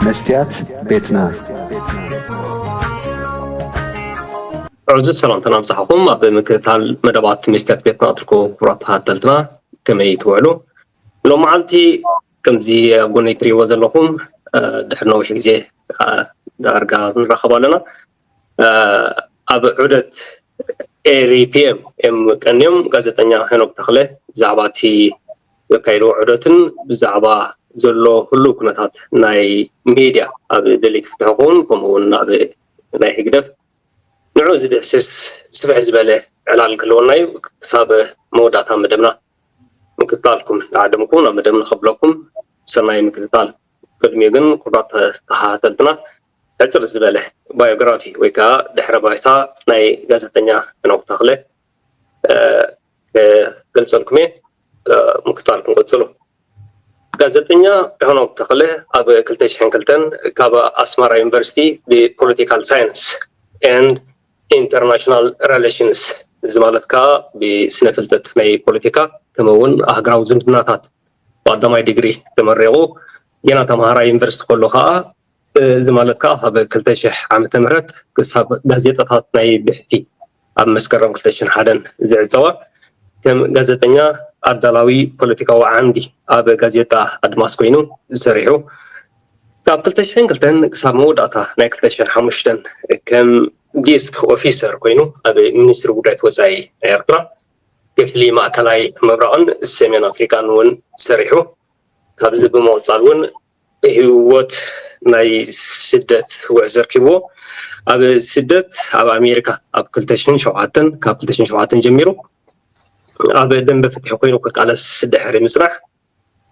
መስትያት ቤትና። ዕዙዝ ሰላምታና ምሳሕኹም ኣብ ምክትታል መደባት መስትያት ቤትና እትርከቡ ክቡራት ተኸታተልትና ከመይ ትውዕሉ ሎም መዓልቲ ከምዚ ኣብ ጎነይ ትሪእዎ ዘለኹም ድሕሪ ነዊሕ ግዜ ዳርጋ ንራኸብ ኣለና ኣብ ዑደት ኤሪ ፒኤም እዮም ቀንዮም። ጋዜጠኛ ሄኖክ ተኽለ ብዛዕባ እቲ ዘካየድዎ ዑደትን ብዛዕባ ዘሎ ህሉው ኩነታት ናይ ሜድያ ኣብ ደለይቲ ፍትሒ ክኸውን ከምኡ እውን ኣብ ናይ ህግደፍ ንዑ ዝድህስስ ስፍሕ ዝበለ ዕላል ክህልወና እዩ ክሳብ መወዳእታ መደብና ምክትታልኩም ተዓደምኩ ናብ መደብ ንኸብለኩም ሰናይ ምክትታል ቅድሚኡ ግን ኩብራት ተኸታተልትና ሕጽር ዝበለ ባዮግራፊ ወይ ከኣ ድሕረ ባይታ ናይ ጋዜጠኛ ሄኖክ ተኽለ ክገልጸልኩም እየ። ምክታል ክንቅጽሉ። ጋዜጠኛ ሄኖክ ተኽለ ኣብ ክልተ ሽሕን ክልተን ካብ ኣስመራ ዩኒቨርሲቲ ብፖለቲካል ሳይንስ ኤንድ ኢንተርናሽናል ረለሽንስ እዚ ማለት ከኣ ብስነ ፍልጠት ናይ ፖለቲካ ከምኡ እውን ኣህግራዊ ዝምድናታት ብቀዳማይ ዲግሪ ተመሪቑ ጌና ተምሃራይ ዩኒቨርሲቲ ከሎ ከኣ እዚ ማለት ከኣ ካብ ክልተ ሽሕ ዓመተ ምህረት ክሳብ ጋዜጣታት ናይ ብሕቲ ኣብ መስከረም ክልተ ሽሕን ሓደን ዝዕጸዋ ከም ጋዜጠኛ ኣዳላዊ ፖለቲካዊ ዓምዲ ኣብ ጋዜጣ ኣድማስ ኮይኑ ሰሪሑ። ካብ ክልተ ሽሕን ክልተን ክሳብ መወዳእታ ናይ ክልተ ሽሕን ሓሙሽተን ከም ዲስክ ኦፊሰር ኮይኑ ኣብ ሚኒስትሪ ጉዳያት ወጻኢ ናይ ኤርትራ ክፍሊ ማእከላይ ምብራቕን ሰሜን ኣፍሪቃን እውን ሰሪሑ። ካብዚ ብምቕጻል እውን ህይወት ናይ ስደት ጉዕዞ ኣርኪብዎ ኣብ ስደት ኣብ ኣሜሪካ ኣብ ክልተ ሽሕን ሸውዓተን ካብ ክልተ ሽሕን ሸውዓተን ጀሚሩ ኣብ ደንበ ፍትሒ ኮይኑ ክቃለስ ድሕሪ ምጽናሕ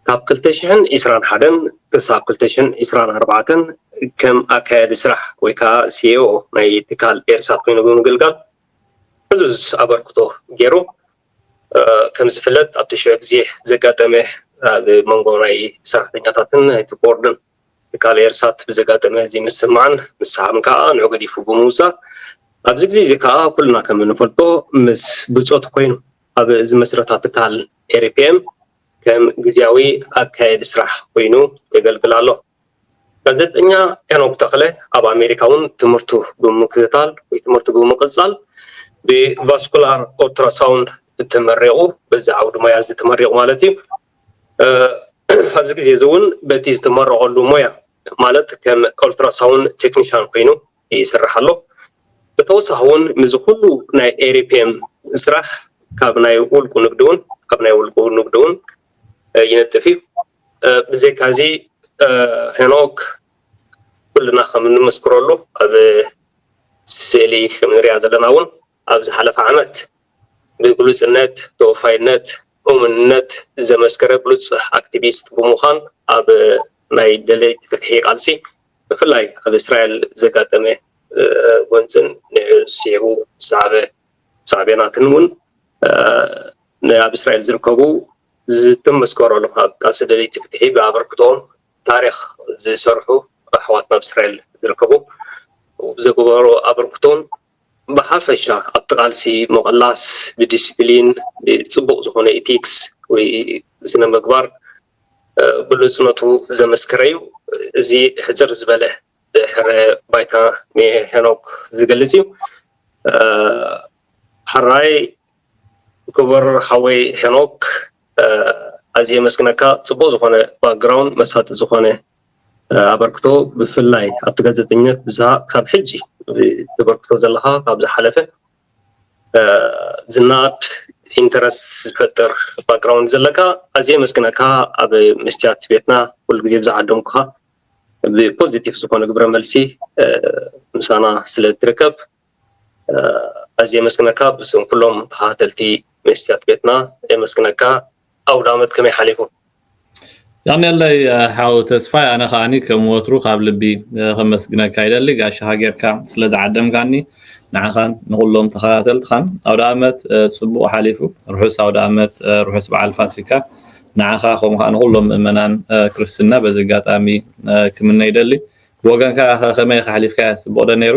ካብ ክልተ ሽሕን ዒስራን ሓደን ክሳብ ክልተ ሽሕን ዒስራን ኣርባዕተን ከም ኣካያዲ ስራሕ ወይ ከዓ ሲኤኦ ናይ ትካል ኤርሳት ኮይኑ ብምግልጋል ዕዙዝ ኣበርክቶ ገይሩ። ከም ዝፍለጥ ኣብ ተሽዑ ግዜ ብዘጋጠመ ኣብ መንጎ ናይ ሰራሕተኛታትን ናይቲ ቦርድን ትካል ኤርሳት ብዘጋጠመ ዘይምስምማዕን ምስሕሓብን ከኣ ንዑ ገዲፉ ብምውጻእ ኣብዚ ግዜ እዚ ከኣ ኩልና ከም እንፈልጦ ምስ ብጾቱ ኮይኑ ኣብ ዝመስረታ ትካል ኤሪፒኤም ከም ግዝያዊ ኣካየዲ ስራሕ ኮይኑ የገልግል ኣሎ። ጋዜጠኛ ሄኖክ ተኽለ ኣብ ኣሜሪካ እውን ትምህርቱ ብምክትታል ወይ ትምህርቱ ብምቕፃል ብቫስኩላር ኦልትራሳውንድ ተመሪቑ በዚ ዓውዲ ሞያ እዚ ተመሪቑ ማለት እዩ ኣብዚ ግዜ እዚ እውን በቲ ዝተመረቐሉ ሞያ ማለት ከም ኦልትራሳውን ቴክኒሻን ኮይኑ ይስራሕ ኣሎ ብተወሳኺ እውን ምዚ ኩሉ ናይ ኤሪፒኤም ስራሕ ካብ ናይ ውልቁ ንግዲ እውን ካብ ናይ ውልቁ ንግዲ እውን ይነጥፍ እዩ ብዘይካዚ ሄኖክ ኩልና ከም እንምስክረሉ ኣብ ስእሊ ከም እንሪኣ ዘለና እውን ኣብ ዝሓለፈ ዓመት ብግሉፅነት፣ ተወፋይነት፣ እሙንነት ዘመስከረ ብሉፅ ኣክቲቪስት ብምዃን ኣብ ናይ ደለይቲ ፍትሒ ቃልሲ ብፍላይ ኣብ እስራኤል ዘጋጠመ ጎንፅን ንዕኡ ስዒቡ ዝሰዓበ ሳዕቤናትን እውን ንኣብ እስራኤል ዝርከቡ ዝተመስከረሉ ካብ ቃልሲ ደለይቲ ፍትሒ ብኣበርክቶኦም ታሪኽ ዝሰርሑ ኣሕዋትና ኣብ እስራኤል ዝርከቡ ብዘግበርዎ ኣበርክቶን ብሓፈሻ ኣብቲ ቃልሲ ምቕላስ ብዲሲፕሊን ብፅቡቕ ዝኾነ ኢቲክስ ወይ ስነ ምግባር ብሉፅነቱ ዘመስከረ እዩ። እዚ ሕፅር ዝበለ ድሕረ ባይታ ንሄኖክ ዝገልፅ እዩ። ሓራይ ክቡር ሓወይ ሄኖክ ኣዝየ የመስግነካ ጽቡቅ ዝኮነ ባክግራውንድ መሳጢ ዝኮነ ኣበርክቶ ብፍላይ ኣብቲ ጋዜጠኝነት ብዛዕባ ካብ ሕጂ ተበርክቶ ዘለካ ካብ ዝሓለፈ ዝነኣድ ኢንተረስት ዝፈጥር ባክግራውንድ ዘለካ ኣዝየ የመስግነካ ኣብ መስትያት ቤትና ኩሉ ግዜ ብዝዓደምኩካ ብፖዚቲቭ ዝኮነ ግብረ መልሲ ምሳና ስለ እትርከብ ኣዝየ የመስግነካ ብስም ኩሎም ተኸታተልቲ መስትያት ቤትና የመስግነካ ኣውዳመት ከመይ ሓሊፉ? ያኔለይ ሓው ተስፋይ ኣነ ከኣኒ ከም ወትሩ ካብ ልቢ ከመስግነካ ይደሊ ጋሻኻ ጌርካ ስለ ዝዓደምካኒ ንዓኻን ንኹሎም ተኸታተልትኻን ኣውደኣመት ጽቡቕ ሓሊፉ ርሑስ ኣውደኣመት ርሑስ በዓል ፋሲካ ንዓኻ ከምኡ ከኣ ንኹሎም ምእመናን ክርስትና በዚ ኣጋጣሚ ክምነ ይደሊ ብወገንካ ከመይ ከሕሊፍካያ ጽቡቕ ዶ ነይሩ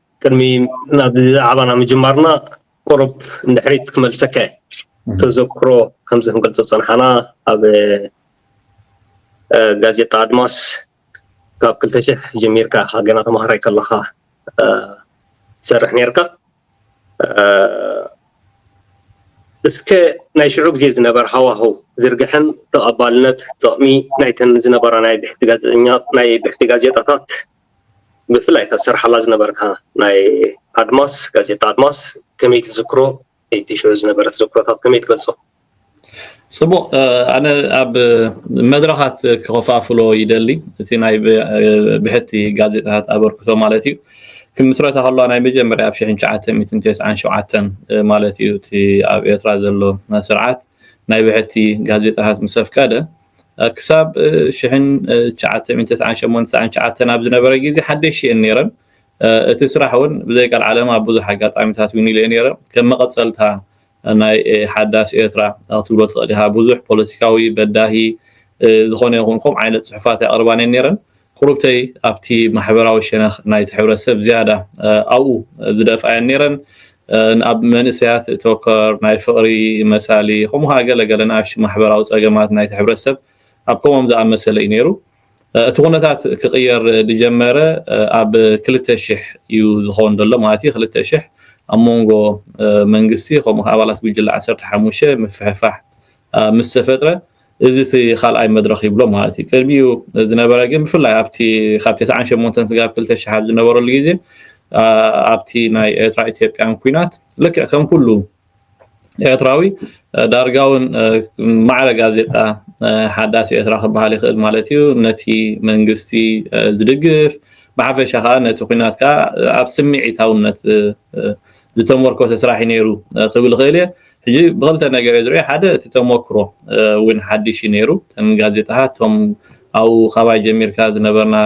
ቅድሚ ናብ ዛዕባና ምጅማርና ቁሩብ ንድሕሪት ክመልሰካ እየ ተዘክሮ ከምዚ ክንገልፆ ዝፀናሕና ኣብ ጋዜጣ ኣድማስ ካብ ክልተ ሽሕ ጀሚርካ ኢኻ ገና ተምሃራይ ከለኻ ትሰርሕ ነርካ እስከ ናይ ሽዑ ግዜ ዝነበረ ሃዋህው ዝርግሐን ተቐባልነት ጥቕሚ ናይተን ዝነበራ ናይ ብሕቲ ጋዜጠኛ ናይ ብሕቲ ጋዜጣታት ብፍላይ እታ ትሰርሓላ ዝነበርካ ናይ ኣድማስ ጋዜጣ ኣድማስ ከመይ ትዝክሮ እቲ ሽዑ ዝነበረ ተዘክሮታት ከመይ ትገልጾ? ጽቡቅ ኣነ ኣብ መድረኻት ክኸፋፍሎ ይደሊ እቲ ናይ ብሕቲ ጋዜጣታት ኣበርክቶ ማለት እዩ ክምስረታ ከለዋ ናይ መጀመርያ ኣብ 1997 ማለት እዩ እቲ ኣብ ኤርትራ ዘሎ ስርዓት ናይ ብሕቲ ጋዜጣታት ምስ ኣፍቀደ፣ ክሳብ ሽሕን ትሽዓተ ሚእትን ተስዓን ሸሞንተን ተስዓን ትሽዓተን ኣብ ዝነበረ ግዜ ሓደሽቲ እየን ነይረን። እቲ ስራሕ እውን ብዘይ ቀልዓለም ኣብ ብዙሕ ኣጋጣሚታት እውን ኢለዮ ነይረ። ከም መቐጸልታ ናይ ሓዳስ ኤርትራ ክትብሎ ትኽእል ኢኻ። ብዙሕ ፖለቲካዊ፣ በዳሂ፣ ዝኾነ ይኹን ከምኡ ዓይነት ጽሑፋት ኣይቕርባን እየን ነይረን። ቁሩብተይ ኣብቲ ማሕበራዊ ሸነኽ ናይቲ ሕብረተሰብ ዝያዳ ኣብኡ ዝደፍኣ እየን ነይረን። ንኣብ መንእሰያት እተኮር ናይ ፍቕሪ፣ መሳሊ፣ ከምኡ ኸኣ ገለ ገለ ንኣሽቱ ማሕበራዊ ጸገማት ናይቲ ሕብረተሰብ ኣብ ከምኦም ዝኣመሰለ እዩ ነይሩ። እቲ ኩነታት ክቕየር ዝጀመረ ኣብ ክልተ ሽሕ እዩ ዝኸውን ዘሎ፣ ማለት እዩ ክልተ ሽሕ ኣብ መንጎ መንግስቲ ከምኡ ኸኣ ኣባላት ጉጅለ ዓሰርተ ሓሙሽተ ምፍሕፋሕ ምስ ተፈጥረ፣ እዚ እቲ ካልኣይ መድረኽ ይብሎ ማለት እዩ። ቅድሚኡ ዝነበረ ግን ብፍላይ ኣብቲ ካብ ተስዓን ሸሞንተን ስጋብ ክልተ ሽሕ ኣብ ዝነበረሉ ግዜ ኣብቲ ናይ ኤርትራ ኢትዮጵያን ኩናት ልክዕ ከም ኩሉ ኤርትራዊ ዳርጋ እውን ማዕረ ጋዜጣ ሓዳስ ኤርትራ ክበሃል ይኽእል ማለት እዩ ነቲ መንግስቲ ዝድግፍ ብሓፈሻ ከዓ ነቲ ኩናት ከዓ ኣብ ስምዒታውነት ዝተሞርኮሰ ስራሕ እዩ ነይሩ ክብል እኽእል እየ። ሕጂ ብኽልተ ነገር እየ ዝርእዮ፣ ሓደ እቲ ተሞክሮ እውን ሓድሽ እዩ ነይሩ፣ እተን ጋዜጣታት እቶም ኣብኡ ካባይ ጀሚርካ ዝነበርና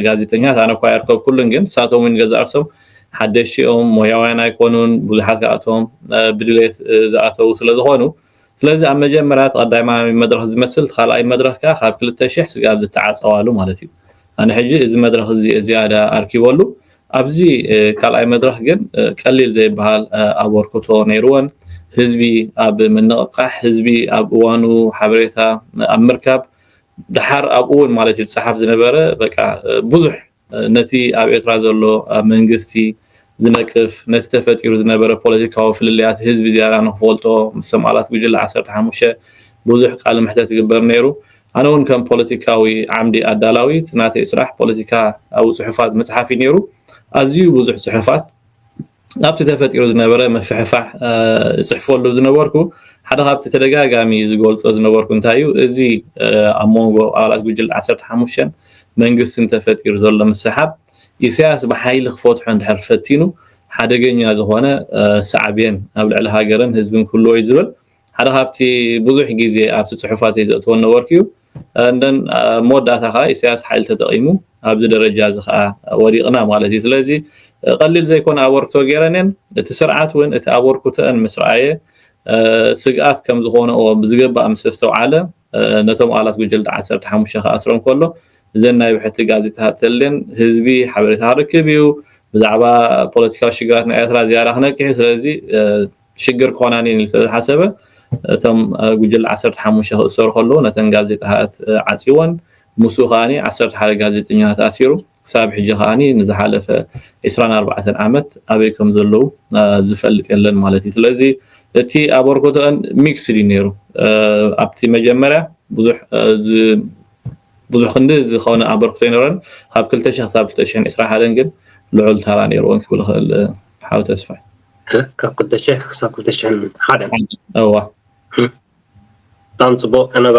ጋዜጠኛታት ኣነ እኳ ኣየርከብኩሉን፣ ግን ንሳቶም እውን ገዛእ ርእሶም ሓደሽቲ እዮም፣ ሞያውያን ኣይኮኑን፣ ብዙሓት ካብኣቶም ብድሌት ዝኣተዉ ስለዝኾኑ፣ ስለዚ ኣብ መጀመርያ እቲ ቀዳማይ መድረኽ ዝመስል እቲ ካልኣይ መድረኽ ከኣ ካብ ክልተ ሽሕ ስጋብ ዝተዓጸዋሉ ማለት እዩ። ኣነ ሕጂ እዚ መድረኽ እዚ እየ ዝያዳ ኣርኪበሉ። ኣብዚ ካልኣይ መድረኽ ግን ቀሊል ዘይብሃል ኣበርክቶ ነይርወን። ህዝቢ ኣብ ምንቕቓሕ፣ ህዝቢ ኣብ እዋኑ ሓበሬታ ኣብ ምርካብ፣ ደሓር ኣብኡ እውን ማለት እዩ ዝጸሓፍ ዝነበረ በቃ ብዙሕ ነቲ ኣብ ኤርትራ ዘሎ ኣብ መንግስቲ ዝነቅፍ ነቲ ተፈጢሩ ዝነበረ ፖለቲካዊ ፍልልያት ህዝቢ ዝያዳ ንክፈልጦ ምስም ኣላት ጉጅለ ዓሰርተ ሓሙሽተ ብዙሕ ቃለ መሕተት ይግበር ነይሩ። ኣነ ውን ከም ፖለቲካዊ ዓምዲ ኣዳላዊ እቲ ናተይ ስራሕ ፖለቲካ ኣብ ጽሑፋት ምጽሓፍ እዩ ነይሩ። ኣዝዩ ብዙሕ ጽሑፋት። ናብቲ ተፈጢሩ ዝነበረ ምፍሕፋሕ ዝጽሕፈሉ ዝነበርኩ ሓደ ካብቲ ተደጋጋሚ ዝገልጾ ዝነበርኩ እንታይ እዩ እዚ ኣብ መንጎ ኣባላት ጉጅለ 15 መንግስትን ተፈጢሩ ዘሎ ምስሓብ ኢሳያስ ብሓይሊ ክፈትሖ እንድሕር ፈቲኑ ሓደገኛ ዝኾነ ሳዕቤን ኣብ ልዕሊ ሃገርን ህዝብን ክህልዎ እዩ ዝብል ሓደ ካብቲ ብዙሕ ግዜ ኣብቲ ጽሑፋተይ ዘእትዎ ነበርኩ እዩ and then ኣብ መወዳእታ ከኣ ኢሰያስ ሓይሊ ተጠቂሙ ኣብዚ ደረጃ እዚ ከኣ ወዲቅና ማለት እዩ ስለዚ ቀሊል ዘይኮነ ኣበርክቶ ገይረን እየን እቲ ስርዓት እውን እቲ ኣበርክቶአን ምስ ረኣየ ስግኣት ከም ዝኾነኦ ብዝግባእ ምስ ኣስተውዓለ ነቶም ኣባላት ጉጅለ ዓሰርተ ሓሙሽተ ክኣስሮም ከሎ እዘን ናይ ብሕቲ ጋዜጣታት ተልየን ህዝቢ ሓበሬታ ክረክብ እዩ ብዛዕባ ፖለቲካዊ ሽግራትና ኤርትራ ዝያዳ ክነቅሕ እዩ ስለዚ ሽግር ክኾናን እየን ኢሉ ስለዝሓሰበ እቶም ጉጅለ ዓሰርተ ሓሙሽተ ክእሰሩ ከለዉ ነተን ጋዜጣታት ዓጽዩወን። ምስኡ ከኣ ዓሰርተ ሓደ ጋዜጠኛታት ኣሲሩ። ክሳብ ሕጂ ከኣ ንዝሓለፈ ዕስራን ኣርባዕተን ዓመት ኣበይ ከም ዘለዉ ዝፈልጥ የለን ማለት እዩ። ስለዚ እቲ ኣበርክቶአን ሚክስድ እዩ ነይሩ። ኣብቲ መጀመርያ ብዙሕ ብዙሕ ክንዲ ዝኾነ ኣበርክቶ ይኖረን ካብ ክልተ ሽሕ ክሳብ ክልተ ሽሕን ዕስራን ሓደን ግን ልዑል ታራ ነይርወን ክብል እኽእል ሓው ተስፋይ ካብ ክልተ ሽሕ ክሳብ ክልተ ሽሕን ሓደን እወ ብጣዕሚ ፅቡቅ ከነጋ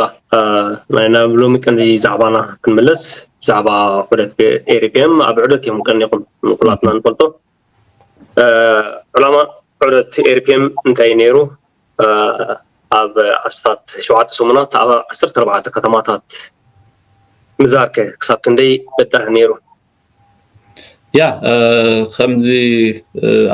ናይ ናብ ሎሚ ቀንዲ ዛዕባና ክንምለስ ብዛዕባ ዑደት ኤሪፒኤም ኣብ ዑደት እዮም ቀኒኹም ንኩላትና ንፈልጦ ዕላማ ዑደት ኤሪፒኤም እንታይ ነይሩ ኣብ ኣስታት ሸውዓተ ሰሙናት ኣብ ዓሰርተ ኣርባዕተ ከተማታት ምዛርከ ክሳብ ክንደይ በዳህ ነይሩ ያ ከምዚ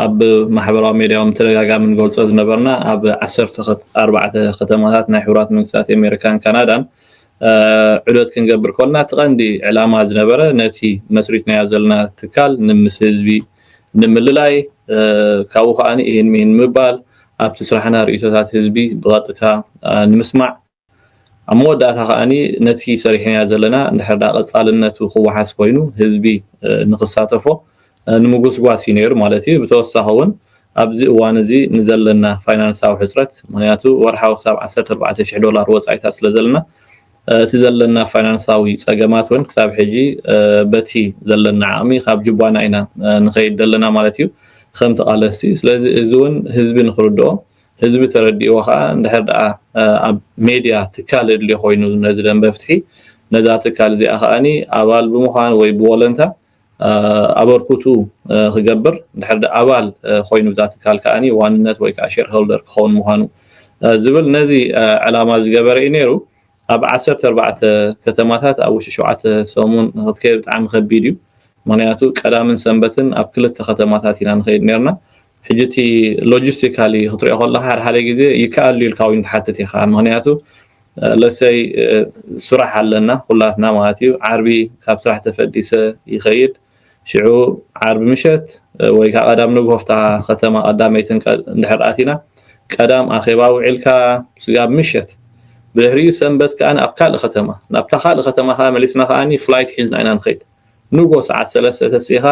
ኣብ ማሕበራዊ ሜድያ እውን ተደጋጋሚ ንገልፆ ዝነበርና ኣብ ዓሰርተ ኣርባዕተ ከተማታት ናይ ሕቡራት መንግስታት ኣሜሪካን ካናዳን ዑደት ክንገብር ኮልና እቲ ቀንዲ ዕላማ ዝነበረ ነቲ መስሪትናዮ ዘለና ትካል ንምስ ህዝቢ ንምልላይ ካብኡ ከዓኒ ይህን ምሂን ምባል ኣብቲ ስራሕና ርእቶታት ህዝቢ ብቐጥታ ንምስማዕ ኣብ መወዳእታ ከኣ ነቲ ሰሪሕናዮ ዘለና እንድሕር ደኣ ቀጻልነቱ ክወሓስ ኮይኑ ህዝቢ ንኽሳተፎ ንምጉስጓስ እዩ ነይሩ ማለት እዩ። ብተወሳኺ እውን ኣብዚ እዋን እዚ ንዘለና ፋይናንሳዊ ሕጽረት ምኽንያቱ ወርሓዊ ክሳብ ዓሰርተ ኣርባዕተ ሽሕ ዶላር ወጻኢታት ስለ ዘለና እቲ ዘለና ፋይናንሳዊ ጸገማት እውን ክሳብ ሕጂ በቲ ዘለና ዓቕሚ ካብ ጅቧና ኢና ንኸይድ ዘለና ማለት እዩ ከም ተቓለስቲ። ስለዚ እዚ እውን ህዝቢ ንኽርድኦ ህዝቢ ተረዲእዎ ከኣ እንድሕር ደኣ ኣብ ሜድያ ትካል እድልዮ ኮይኑ ነዚ ደንበ ፍትሒ ነዛ ትካል እዚኣ ከኣ ኣባል ብምዃን ወይ ብወለንታ ኣበርኩቱ ክገብር እንድሕር ደኣ ኣባል ኮይኑ እዛ ትካል ከኣ ዋንነት ወይ ከኣ ሼርሆልደር ክኸውን ምዃኑ ዝብል ነዚ ዕላማ ዝገበረ እዩ ነይሩ። ኣብ ዓሰርተ ኣርባዕተ ከተማታት ኣብ ውሽጢ ሸውዓተ ሰሙን ንኽትከይድ ብጣዕሚ ከቢድ እዩ ምኽንያቱ ቀዳምን ሰንበትን ኣብ ክልተ ከተማታት ኢና ንኸይድ ኔርና ሕጂ እቲ ሎጂስቲካሊ ክትሪኦ ከለኻ ሓደ ሓደ ግዜ ይከኣል ድዩ ኢልካ እውን ትሓትት ኢኻ ምኽንያቱ ለሰይ ስራሕ ኣለና ኩላትና ማለት እዩ ዓርቢ ካብ ስራሕ ተፈዲሰ ይኸይድ ሽዑ ዓርቢ ምሸት ወይ ከኣ ቀዳም ንግሆ ኣብታ ከተማ ቀዳመይቲ እንድሕር ኣቲና፣ ቀዳም ኣኼባ ውዒልካ ስጋብ ምሸት፣ ብድሕሪኡ ሰንበት ከኣ ኣብ ካልእ ከተማ፣ ናብታ ካልእ ከተማ ከኣ መሊስና ከኣ ፍላይት ሒዝና ኢና ንኸይድ። ንግሆ ሰዓት ሰለስተ ተሲእኻ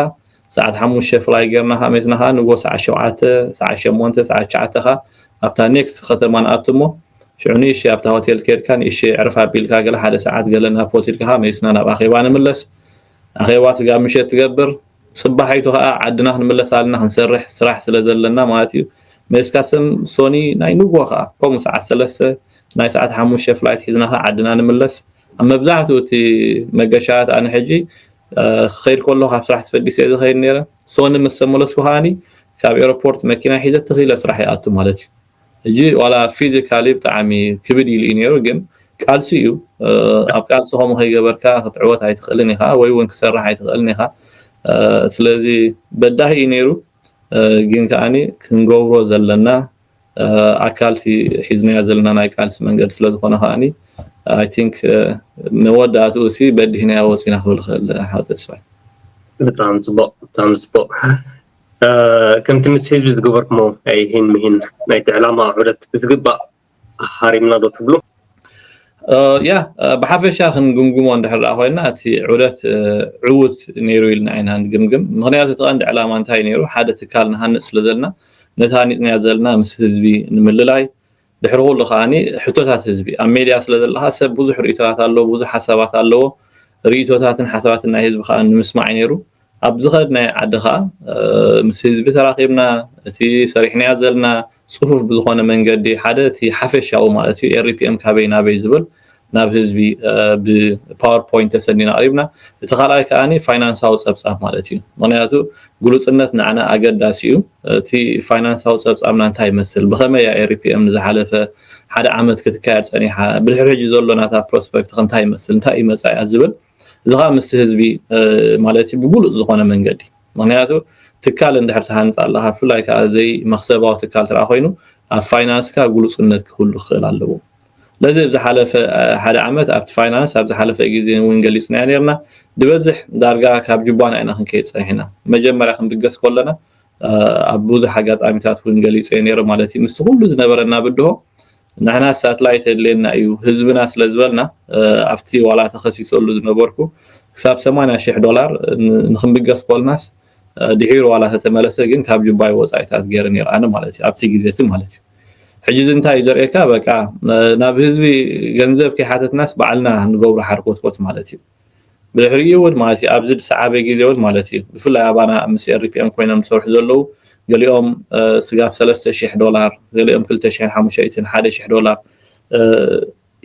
ሰዓት ሓሙሽተ ፍላይ ጌርና ከኣ መሊስና ከኣ ንግሆ ሰዓት ሸውዓተ፣ ሰዓት ሸሞንተ፣ ሰዓት ትሽዓተ ከኣ ኣብታ ኔክስት ከተማ ንኣቱ እሞ ሽዑ ንእሽተይ ኣብታ ሆቴል ኬድካ ንእሽተይ ዕርፍ ኣቢልካ ገለ ሓደ ሰዓት ገለ ናብ ወሲድካ ከኣ መሊስና ናብ ኣኼባ ንምለስ። ኣኼባ ስጋብ ምሸት ትገብር ጽባሒቱ ከኣ ዓድና ክንምለስ ኣልና ክንሰርሕ ስራሕ ስለ ዘለና ማለት እዩ መሊስካ ስም ሶኒ ናይ ንግሆ ከኣ ከምኡ ሰዓት ሰለስተ ናይ ሰዓት ሓሙሽተ ፍላይት ሒዝና ከኣ ዓድና ንምለስ ኣብ መብዛሕትኡ እቲ መገሻታት ኣነ ሕጂ ክኸይድ ከሎ ካብ ስራሕ ተፈጊሰ እየ ዝኸይድ ነይረ ሶኒ ምስ ተመለስኩ ከኣኒ ካብ ኤሮፖርት መኪና ሒዘ ተኺለ ስራሕ ይኣቱ ማለት እዩ ሕጂ ዋላ ፊዚካሊ ብጣዕሚ ክብድ ኢሉ እዩ ኔሩ ግን ቃልሲ እዩ ኣብ ቃልሲ ከምኡ ከይገበርካ ክትዕወት ኣይትኽእልን ኢኻ ወይ ውን ክሰርሕ ኣይትኽእልን ኢኻ ስለዚ በዳሂ እዩ ኔሩ ግን ከኣ ክንገብሮ ዘለና ኣካል እቲ ሒዝናዮ ዘለና ናይ ቃልሲ መንገዲ ስለ ዝኾነ ከኣ ኣይ ቲንክ መወዳእትኡ ሲ በዲህናዮ ወጺና ክብል ይኽእል ሓው ተስፋይ። ብጣዕሚ ጽቡቕ ብጣዕሚ ጽቡቕ። ከምቲ ምስ ህዝቢ ዝገበርኩሞ ናይ ሂን ምሂን ናይቲ ዕላማ ዑደት ብዝግባእ ሃሪምና ዶ ትብሉ? ያ ብሓፈሻ ክንግምግሞ እንድሕር ደኣ ኮይና እቲ ዑደት ዕዉት ነይሩ ኢልና ኢና ንግምግም። ምኽንያቱ እቲ ቀንዲ ዕላማ እንታይ ነይሩ ሓደ ትካል ንሃንጽ ስለ ዘለና ነታ ሃኒጽናያ ዘለና ምስ ህዝቢ ንምልላይ ድሕሪ ኩሉ ከኣ ሕቶታት ህዝቢ ኣብ ሜድያ ስለ ዘለኻ ሰብ ብዙሕ ርእይቶታት ኣለዎ ብዙሕ ሓሳባት ኣለዎ ርእይቶታትን ሓሳባትን ናይ ህዝቢ ከኣ ንምስማዕ እዩ ነይሩ ኣብ ዝኸድናዮ ዓዲ ከኣ ምስ ህዝቢ ተራኺብና እቲ ሰሪሕናዮ ዘለና ጽፉፍ ብዝኾነ መንገዲ ሓደ እቲ ሓፈሻዊ ማለት እዩ RPM ካበይ ናበይ ዝብል ናብ ህዝቢ ብፓወር ፖይንት ተሰኒና ኣቅሪብና እቲ ካልኣይ ከኣ ፋይናንሳዊ ጸብጻብ ማለት እዩ ምክንያቱ ግሉጽነት ንዓና ኣገዳሲ እዩ እቲ ፋይናንሳዊ ጸብጻብና እንታይ ይመስል ብከመይ እያ ኤሪፒኤም ንዝሓለፈ ሓደ ዓመት ክትካየድ ጸኒሓ ብድሕሪ ሕጂ ዘሎ ናታ ፕሮስፐክት እንታይ ይመስል እንታይ እዩ መጻኢያ ዝብል እዚ ከዓ ምስ ህዝቢ ማለት እዩ ብግሉጽ ዝኾነ መንገዲ ምክንያቱ ትካል እንድሕር ትሃንፃ ኣለካ ብፍላይ ከዓ ዘይ መክሰባዊ ትካል ትርኣ ኮይኑ ኣብ ፋይናንስካ ግሉፅነት ክህሉ ክኽእል ኣለዎ ስለዚ እብ ዝሓለፈ ሓደ ዓመት ኣብቲ ፋይናንስ ኣብ ዝሓለፈ ግዜ እውን ገሊጽናዮ ኔርና ድበዝሕ ዳርጋ ካብ ጁባና ኢና ክንከይድ ጸኒሕና መጀመርያ ክንብገስ ኮለና ኣብ ብዙሕ ኣጋጣሚታት እውን ገሊጸዮ ኔረ ማለት እዩ ምስ ኩሉ ዝነበረና ብድሆ ንሕና ሳትላይት የድልየና እዩ ህዝብና ስለ ዝበልና ኣብቲ ዋላ ተኸሲሰሉ ዝነበርኩ ክሳብ 80 ሽሕ ዶላር ንክንብገስ ኮልናስ ድሒሩ ዋላ ተተመለሰ ግን ካብ ጅባይ ወጻኢታት ገይረ ነይረ ኣነ ማለት እዩ ኣብቲ ግዜ እቲ ማለት እዩ ሕጂ እዚ እንታይ እዩ ዘርእየካ በቃ ናብ ህዝቢ ገንዘብ ከይሓተትናስ ባዕልና ንገብሮ ሓርኮትኮት ማለት እዩ። ብድሕሪኡ እውን ማለት እዩ ኣብዚ ዝሰዓበ ግዜ እውን ማለት እዩ ብፍላይ ኣባና ምስ ኤሪፒኤም ኮይኖም ዝሰርሑ ዘለዉ ገሊኦም ስጋብ ሰለስተ ሽሕ ዶላር ገሊኦም ክልተ ሽሕን ሓሙሸይትን ሓደ ሽሕ ዶላር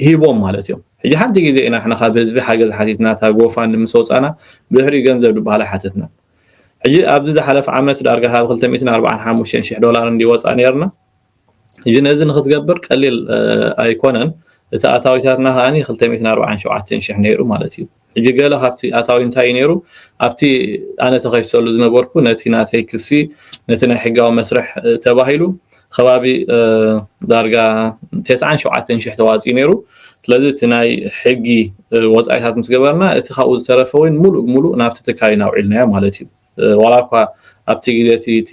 ሂቦም ማለት እዮም። ሕጂ ሓንቲ ግዜ ኢና ንሕና ካብ ህዝቢ ሓገዝ ሓቲትና እታ ጎፋንድ ምስ ወጻና ብድሕሪኡ ገንዘብ ዝበሃል ኣይሓተትናን። ሕጂ ኣብዚ ዝሓለፈ ዓመት ዳርጋ ካብ ክልተ ሚእትን ኣርብዓን ሓሙሽተን ሽሕ ዶላር እንድዩ ወጻኢ ነይርና ሕጂ ነዚ ንክትገብር ቀሊል ኣይኮነን እቲ ኣታዊታትና ከኣ ክልተ ሚእትን ኣርብዓን ሸውዓተን ሽሕ ነይሩ ማለት እዩ ሕጂ ገለ ካብቲ ኣታዊ እንታይ ነይሩ ኣብቲ ኣነ ተኸሲሰሉ ዝነበርኩ ነቲ ናተይ ክሲ ነቲ ናይ ሕጋዊ መስርሕ ተባሂሉ ኸባቢ ዳርጋ ተስዓን ሸውዓተን ሽሕ ተዋጺኡ ነይሩ። ስለዚ እቲ ናይ ሕጊ ወጻኢታት ምስ ገበርና እቲ ካብኡ ዝተረፈ ወይን ምሉእ ብምሉእ ናብቲ ትካል ኢና ኣውዒልናዮ ማለት እዩ። ዋላ እኳ ኣብቲ ግዜ እቲ እቲ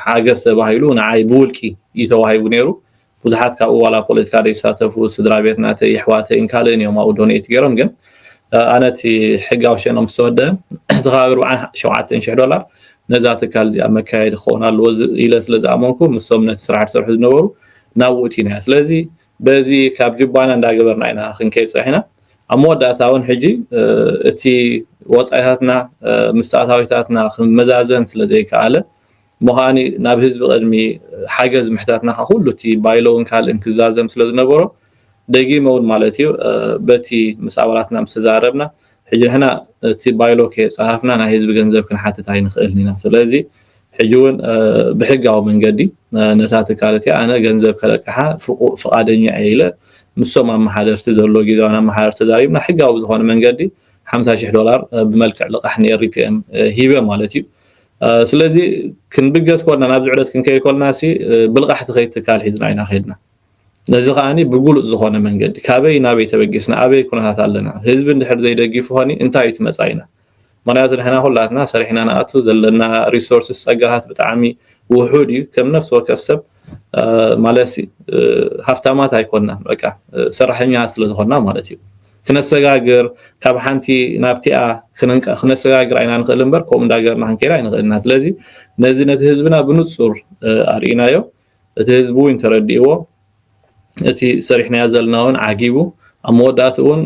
ሓገዝ ተባሂሉ ንዓይ ብውልቂ እዩ ተዋሂቡ ነይሩ። ብዙሓት ካብኡ ዋላ ፖለቲካ ዘይሳተፉ ስድራቤት ናተይ የሕዋተይን ካልእን እዮም ኣብኡ ዶኔት ገይሮም ግን ኣነ እቲ ሕጋዊ ሸነኦም ዝተወደበ እቲ ኸባቢ ርብዓን ሸውዓተን ሽሕ ዶላር ነዛ ትካል እዚኣ መካየዲ ክኸውን ኣለዎ ኢለ ስለ ዝኣመንኩ ምሶም ነቲ ስራሕ ዝሰርሑ ዝነበሩ ናብኡ እቲና ኢና ስለዚ በዚ ካብ ጅባና እንዳገበርና ኢና ክንከይድ ጸኒሕና ኣብ መወዳእታ እውን ሕጂ እቲ ወጻኢታትና ምስ ኣታዊታትና ክመዛዘን ስለ ዘይከኣለ እሞ ከዓኒ ናብ ህዝቢ ቅድሚ ሓገዝ ምሕታትና ከ ኩሉ እቲ ባይሎውን ካልእን ክዛዘም ስለ ዝነበሮ ደጊመ እውን ማለት እዩ በቲ ምስ ኣባላትና ምስ ተዛረብና ሕጂ ንሕና እቲ ባይሎ ከየጻሃፍና ናይ ህዝቢ ገንዘብ ክንሓትት ኣይንኽእልን ኢና ስለዚ ሕጂ ውን ብሕጋዊ መንገዲ ነታ ትካል እቲኣ ኣነ ገንዘብ ከለቅሓ ፍቓደኛ እየ ኢለ ምሶም ኣመሓደርቲ ዘሎ ጊዛውን ኣመሓደርቲ ተዛሪብና ሕጋዊ ብዝኾነ መንገዲ ሓምሳ ሽሕ ዶላር ብመልክዕ ልቓሕ ንኤሪፒኤም ሂበ ማለት እዩ ስለዚ ክንብገስ ኮልና ናብዚ ዕደት ክንከይድ ኮልና ሲ ብልቓሕቲ ከይት ትካል ሒዝና ኢና ከድና ነዚ ከኣ ብግሉጽ ዝኾነ መንገዲ ካበይ ናበይ ተበጊስና ኣበይ ኩነታት ኣለና ህዝቢ እንድሕር ዘይደጊፉ ከ እንታይ እዩ እቲ መጻኢና ምኽንያቱ ንሕና ኩላትና ሰሪሕና ንኣቱ ዘለና ሪሶርስስ ጸጋታት ብጣዕሚ ውሑድ እዩ ከም ነፍሲ ወከፍ ሰብ ማለት ሃፍታማት ኣይኮናን በቃ ሰራሕኛ ስለ ዝኾና ማለት እዩ ክነሰጋግር ካብ ሓንቲ ናብቲኣ ክነሰጋግር ኣይና ንኽእል እምበር ከምኡ እንዳገርና ክንከይድ ኣይንኽእልና ስለዚ ነዚ ነቲ ህዝብና ብንጹር ኣርእናዮ እቲ ህዝቢ ውን ተረዲእዎ እቲ ሰሪሕናዮ ዘለና ውን ዓጊቡ ኣብ መወዳእትኡ ውን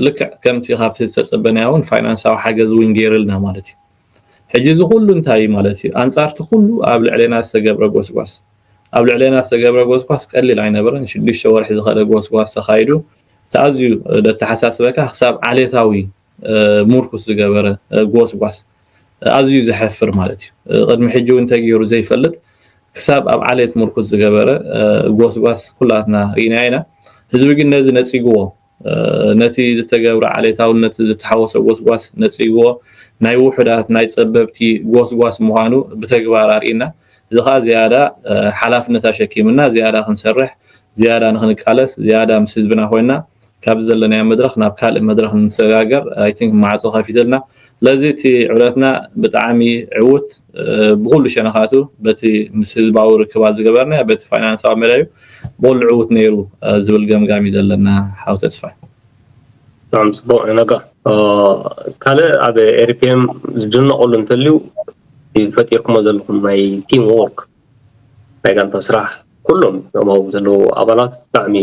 ልክዕ ከምቲ ካብቲ ዝተጸበናዮ ውን ፋይናንሳዊ ሓገዝ ውን ጌርልና ማለት እዩ። ሕጂ እዚ ኩሉ እንታይ እዩ ማለት እዩ ኣንጻር እቲ ኩሉ ኣብ ልዕሌና ዝተገብረ ጎስጓስ። ኣብ ልዕሌና ዝተገብረ ጎስጓስ ቀሊል ኣይነበረን ሽዱሽተ ወርሒ ዝኸደ ጎስጓስ ተኻይዱ እቲ ኣዝዩ ደተሓሳስበካ ክሳብ ዓሌታዊ ሙርኩስ ዝገበረ ጎስጓስ ኣዝዩ ዘሐፍር ማለት እዩ ቅድሚ ሕጂ እውን ተገይሩ ዘይፈልጥ ክሳብ ኣብ ዓሌት ሙርኩስ ዝገበረ ጎስጓስ ኩላትና ርኢናዮ ኢና ህዝቢ ግን ነዚ ነጺግዎ ነቲ ዝተገብረ ዓሌታውነት ዝተሓወሶ ጎስጓስ ነጺግዎ ናይ ውሑዳት ናይ ጸበብቲ ጎስጓስ ምዃኑ ብተግባር ኣርኢና እዚ ከዓ ዝያዳ ሓላፍነት ኣሸኪምና ዝያዳ ክንሰርሕ ዝያዳ ንክንቃለስ ዝያዳ ምስ ህዝብና ኮይና ካብዚ ዘለናዮ መድረኽ ናብ ካልእ መድረኽ ንሰጋገር i think ማዕጾ ከፊትልና ስለዚ እቲ ዕብረትና ብጣዓሚ ዕውት ብኹሉ ሸነኻቱ በቲ ምስ ህዝባዊ ርክባት ዝገበርናዮ በቲ ፋይናንሳዊ መዳዩ ብኹሉ ዕውት ነይሩ ዝብል ገምጋም እዩ ዘለና ሓው ተስፋይ። ብጣዕሚ ጽቡቅ ዩ ነጋ ካልእ ኣብ ኤሪፒኤም ዝድነቀሉ እንተልዩ ፈጢርኩሞ ዘለኹም ናይ ቲም ዎርክ ናይ ጋንታ ስራሕ ኩሎም እቶም ኣብኡ ዘለዉ ኣባላት ብጣዕሚ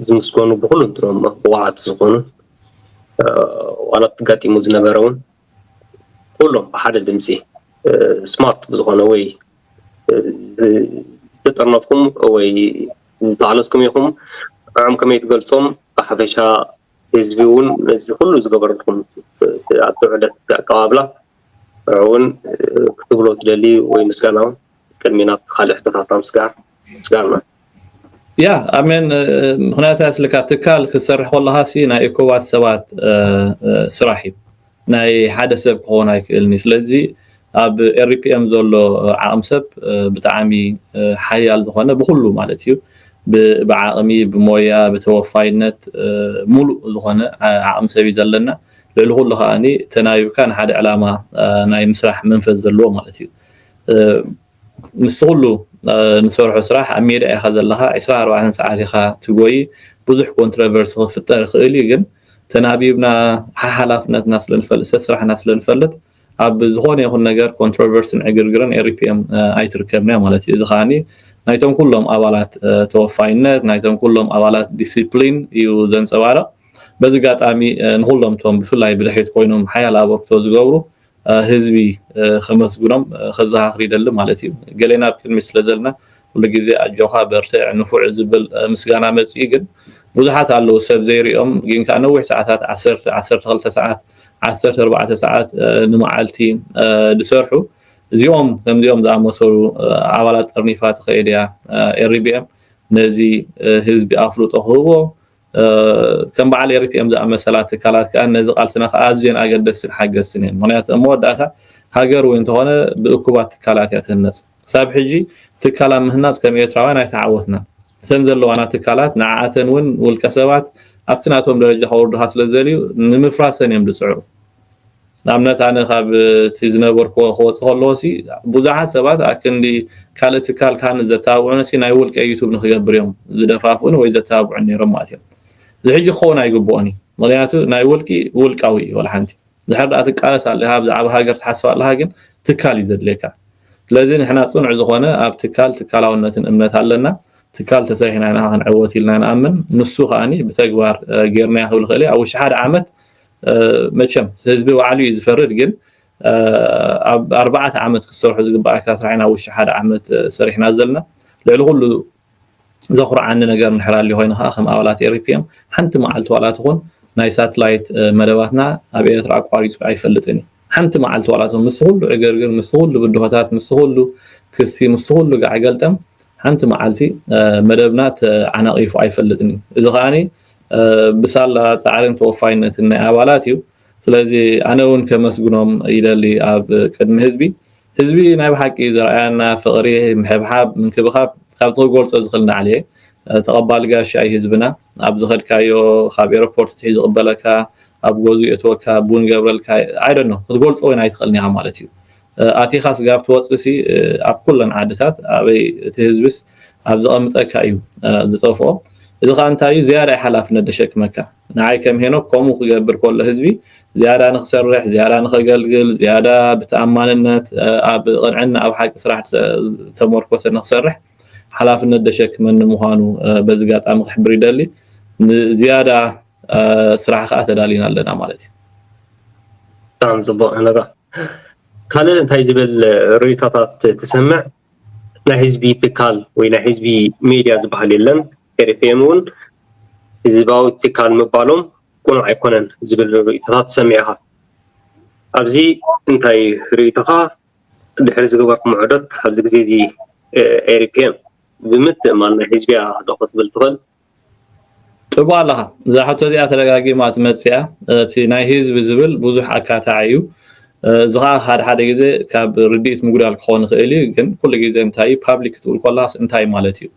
ዝምስገኑ ብኹሉንትኖም ብቑዓት ዝኾኑ ዋላ እቲ ኣጋጢሙ ዝነበረ እውን ኩሎም ብሓደ ድምፂ ስማርት ብዝኾነ ወይ ዝተጠርነፍኩም ወይ ዝተዓለስኩም ኢኹም ንዕም ከመይ ትገልፆም ብሓፈሻ ህዝቢ እውን ነዚ ኩሉ ዝገበረልኩም ኣብቲ ዕለት ኣቀባብላ እውን ክትብሎ ትደሊ ወይ ምስጋና እውን ቅድሚ ናብ ካልእ ሕቶታትና ምስጋር ምስጋና ያ ኣሜን ምክንያቱ ያስልካ ትካል ክሰርሕ ከለካ ሲ ናይ እኮባት ሰባት ስራሕ እዩ ናይ ሓደ ሰብ ክኸውን ኣይክእልን እዩ ስለዚ ኣብ ኤሪፒኤም ዘሎ ዓቕሚ ሰብ ብጣዕሚ ሓያል ዝኾነ ብኩሉ ማለት እዩ ብዓቕሚ ብሞያ ብተወፋይነት ሙሉእ ዝኾነ ዓቕሚ ሰብ እዩ ዘለና ልዕሊ ኩሉ ከኣ ተናቢብካ ንሓደ ዕላማ ናይ ምስራሕ መንፈስ ዘለዎ ማለት እዩ። ምስቲ ኩሉ ንሰርሖ ስራሕ ኣብ ሜዳ ኢኻ ዘለኻ ዕስራን ኣርባዕተን ሰዓት ኢኻ ትጎይ ብዙሕ ኮንትረቨርሲ ክፍጠር ይኽእል እዩ ግን ተናቢብና ሓሓላፍነትና ስለ ንፈልጥ ሰስራሕና ስለ ንፈልጥ ኣብ ዝኾነ ይኹን ነገር ኮንትሮቨርስን ዕግርግርን ERIPM ኣይትርከብን እያ ማለት እዩ። እዚ ከኣ ናይቶም ኩሎም ኣባላት ተወፋይነት፣ ናይቶም ኩሎም ኣባላት ዲሲፕሊን እዩ ዘንጸባርቕ። በዚ ኣጋጣሚ ንኹሎም እቶም ብፍላይ ብድሕሪት ኮይኖም ሓያል ኣበርክቶ ዝገብሩ ህዝቢ ከመስግኖም ከዘኻኽር ይደሊ ማለት እዩ። ገሌና ኣብ ቅድሚት ስለ ዘለና ኩሉ ግዜ ኣጆካ በርትዕ ንፉዕ ዝብል ምስጋና መጺኡ ግን ብዙሓት ኣለዉ ሰብ ዘይሪኦም ግን ከኣ ነዊሕ ሰዓታት ዓሰርተ ዓሰርተ ክልተ ሰዓት ዓሰርተ ኣርባዕተ ሰዓት ንመዓልቲ ዝሰርሑ እዚኦም ከምዚኦም ዝኣመሰሉ ኣባላት ጠርኒፋ ትከይድ እያ ኤሪ ቢኤም ነዚ ህዝቢ ኣፍልጦ ክህቦ ከም በዓል ኤሪፒኤም ዝኣመሰላ ትካላት ከኣ ነዚ ቃልስና ከኣ ኣዝየን ኣገደስትን ሓገዝትን እየን። ምክንያቱ ኣብ መወዳእታ ሃገር እውን እንተኾነ ብእኩባት ትካላት እያ ትህነጽ። ክሳብ ሕጂ ትካል ኣብ ምህናጽ ከም ኤርትራውያን ኣይተዓወትናን። እተን ዘለዋና ትካላት ንዓኣተን እውን ውልቀሰባት ኣብቲ ናቶም ደረጃ ከውርዱኻ ስለዝደልዩ ንምፍራሰን እዮም ዝጽዕሩ። ንኣብነት ኣነ ካብ እቲ ዝነበርክዎ ክወጽእ ከለዎ ሲ ብዙሓት ሰባት ኣክንዲ ካልእ ትካል ካብ ንዘተባብዑኒ ሲ ናይ ውልቀይ ዩቱብ ንክገብር እዮም ዝደፋፍኡኒ ወይ ዘተባብዑኒ ነይሮም ማለት እዮም እዚ ሕጂ ክኸውን ኣይግብኦን እዩ ምክንያቱ ናይ ውልቂ ውልቃዊ እዩ ወላ ሓንቲ ድሕር ድኣ ትቃለስ ኣለካ ብዛዕባ ሃገር ትሓስብ ኣለካ ግን ትካል እዩ ዘድልየካ ስለዚ ንሕና ጽኑዕ ዝኾነ ኣብ ትካል ትካላውነትን እምነት ኣለና ትካል ተሰሪሕና ኢና ክንዕወት ኢልና ንኣምን ንሱ ከዓኒ ብተግባር ጌርናዮ ክብል ክእል ኣብ ውሽጢ ሓደ ዓመት መቸም ህዝቢ ባዕሉ እዩ ዝፈርድ ግን ኣብ ኣርባዕተ ዓመት ክትሰርሑ ዝግባኣካ ስራሕ ኢና ውሽጢ ሓደ ዓመት ሰሪሕና ዘለና ልዕሊ ኩሉ ዘኹርዓኒ ነገር ንድሕር ኣልዩ ኮይኑ ከዓ ከም ኣባላት ኤሪፒኤም ሓንቲ መዓልቲ ዋላ ትኹን ናይ ሳትላይት መደባትና ኣብ ኤርትራ ኣቋሪፁ ኣይፈልጥን እዩ ሓንቲ መዓልቲ ዋላ ትኹን ምስ ኩሉ ዕግርግር ምስ ኩሉ ብድሆታት ምስ ኩሉ ክሲ ምስ ኩሉ ጋዕገልጠም ሓንቲ መዓልቲ መደብና ተዓናቒፉ ኣይፈልጥን እዩ እዚ ከዓኒ ብሳላ ጻዕርን ተወፋይነትን ናይ ኣባላት እዩ ስለዚ ኣነ ውን ከመስግኖም ይደሊ ኣብ ቅድሚ ህዝቢ ህዝቢ ናይ ብሓቂ ዘርኣያና ፍቅሪ ምሕብሓብ ምንክብኻብ ካብቲ ክገልጾ ዝኽል ናዕሊ እየ ተቀባሊ ጋሻ እዩ ህዝብና ኣብ ዝኸድካዮ ካብ ኤሮፖርት ኣትሒዙ ይቅበለካ ኣብ ገዝኡ የእትወካ ቡን ይገብረልካ i don't know ክትገልጾ ውን ኣይትኽእልን ኢኻ ማለት እዩ ኣቲካ ስጋብ ትወጽእ ሲ ኣብ ኩለን ዓድታት ኣበይ እቲ ህዝቢስ ኣብ ዘቀምጠካ እዩ ዝጠፍኦ እዚ ከኣ እንታይ እዩ ዝያዳ እዩ ሓላፍነት ዘሸክመካ ንዓይ ከም ሄኖክ ከምኡ ክገብር ከሎ ህዝቢ ዝያዳ ንክሰርሕ ዝያዳ ንከገልግል ዝያዳ ብተኣማንነት ኣብ ቅንዕና ኣብ ሓቂ ስራሕ ዝተመርኮሰ ንክሰርሕ ሓላፍነት ዘሸክመኒ ምኳኑ በዚ ኣጋጣሚ ክሕብር ይደሊ ንዝያዳ ስራሕ ከኣ ተዳሊና ኣለና ማለት እዩ። ብጣዕሚ ጽቡቅ ሄኖጋ ካልእ እንታይ ዝብል ርእይቶታት ትሰምዕ ናይ ህዝቢ ትካል ወይ ናይ ህዝቢ ሜድያ ዝበሃል የለን ኤሪፒኤም እውን ህዝባዊ ትካል ምባሎም ቅኑዕ ኣይኮነን ዝብል ርእይቶታት ትሰምዕ ኢኻ ኣብዚ እንታይ ርእይቶኻ ድሕሪ ዝገበርኩም ዑደት ኣብዚ ግዜ እዚ ኤሪፒኤም ብምትእምማን ናይ ህዝቢያ ዶ ክትብል ትኽእል ጥቡቅ ኣለኻ እዛ ሕቶ እዚኣ ተደጋጊማ ትመጽእ እያ እቲ ናይ ህዝቢ ዝብል ብዙሕ ኣካታዒ እዩ እዚ ከዓ ሓደ ሓደ ግዜ ካብ ርድኢት ምጉዳል ክኾን ይኽእል እዩ ግን ኩሉ ግዜ እንታይ እዩ ፓብሊክ ክትብል ኮላስ እንታይ ማለት እዩ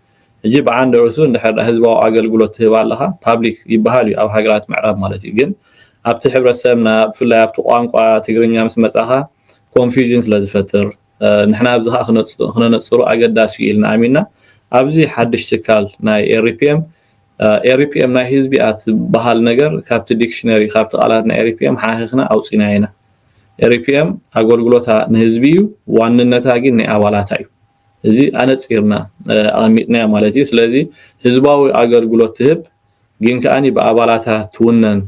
ሕጂ ብዓንዲ ርእሱ እንድሕር ህዝባዊ ኣገልግሎት ትህብ ኣለኻ ፓብሊክ ይበሃል እዩ ኣብ ሃገራት ምዕራብ ማለት እዩ ግን ኣብቲ ሕብረተሰብና ብፍላይ ኣብቲ ቋንቋ ትግርኛ ምስ መጻኻ ኮንፊዥን ስለ ዝፈጥር ንሕና ኣብዚ ከኣ ክነነጽሮ ኣገዳሲ እዩ ኢልና ኣሚንና ኣብዚ ሓድሽ ትካል ናይ ኤሪፒኤም ኤሪፒኤም ናይ ህዝቢ እያ ትበሃል ነገር ካብቲ ዲክሽነሪ ካብቲ ቃላት ናይ ኤሪፒኤም ሓኺኽና ኣውፂናዮ ኢና ኤሪፒኤም ኣገልግሎታ ንህዝቢ እዩ ዋንነታ ግን ናይ ኣባላታ እዩ እዚ ኣነፂርና ኣቐሚጥናዮ ማለት እዩ ስለዚ ህዝባዊ ኣገልግሎት ትህብ ግን ከዓኒ ብኣባላታ ትውነን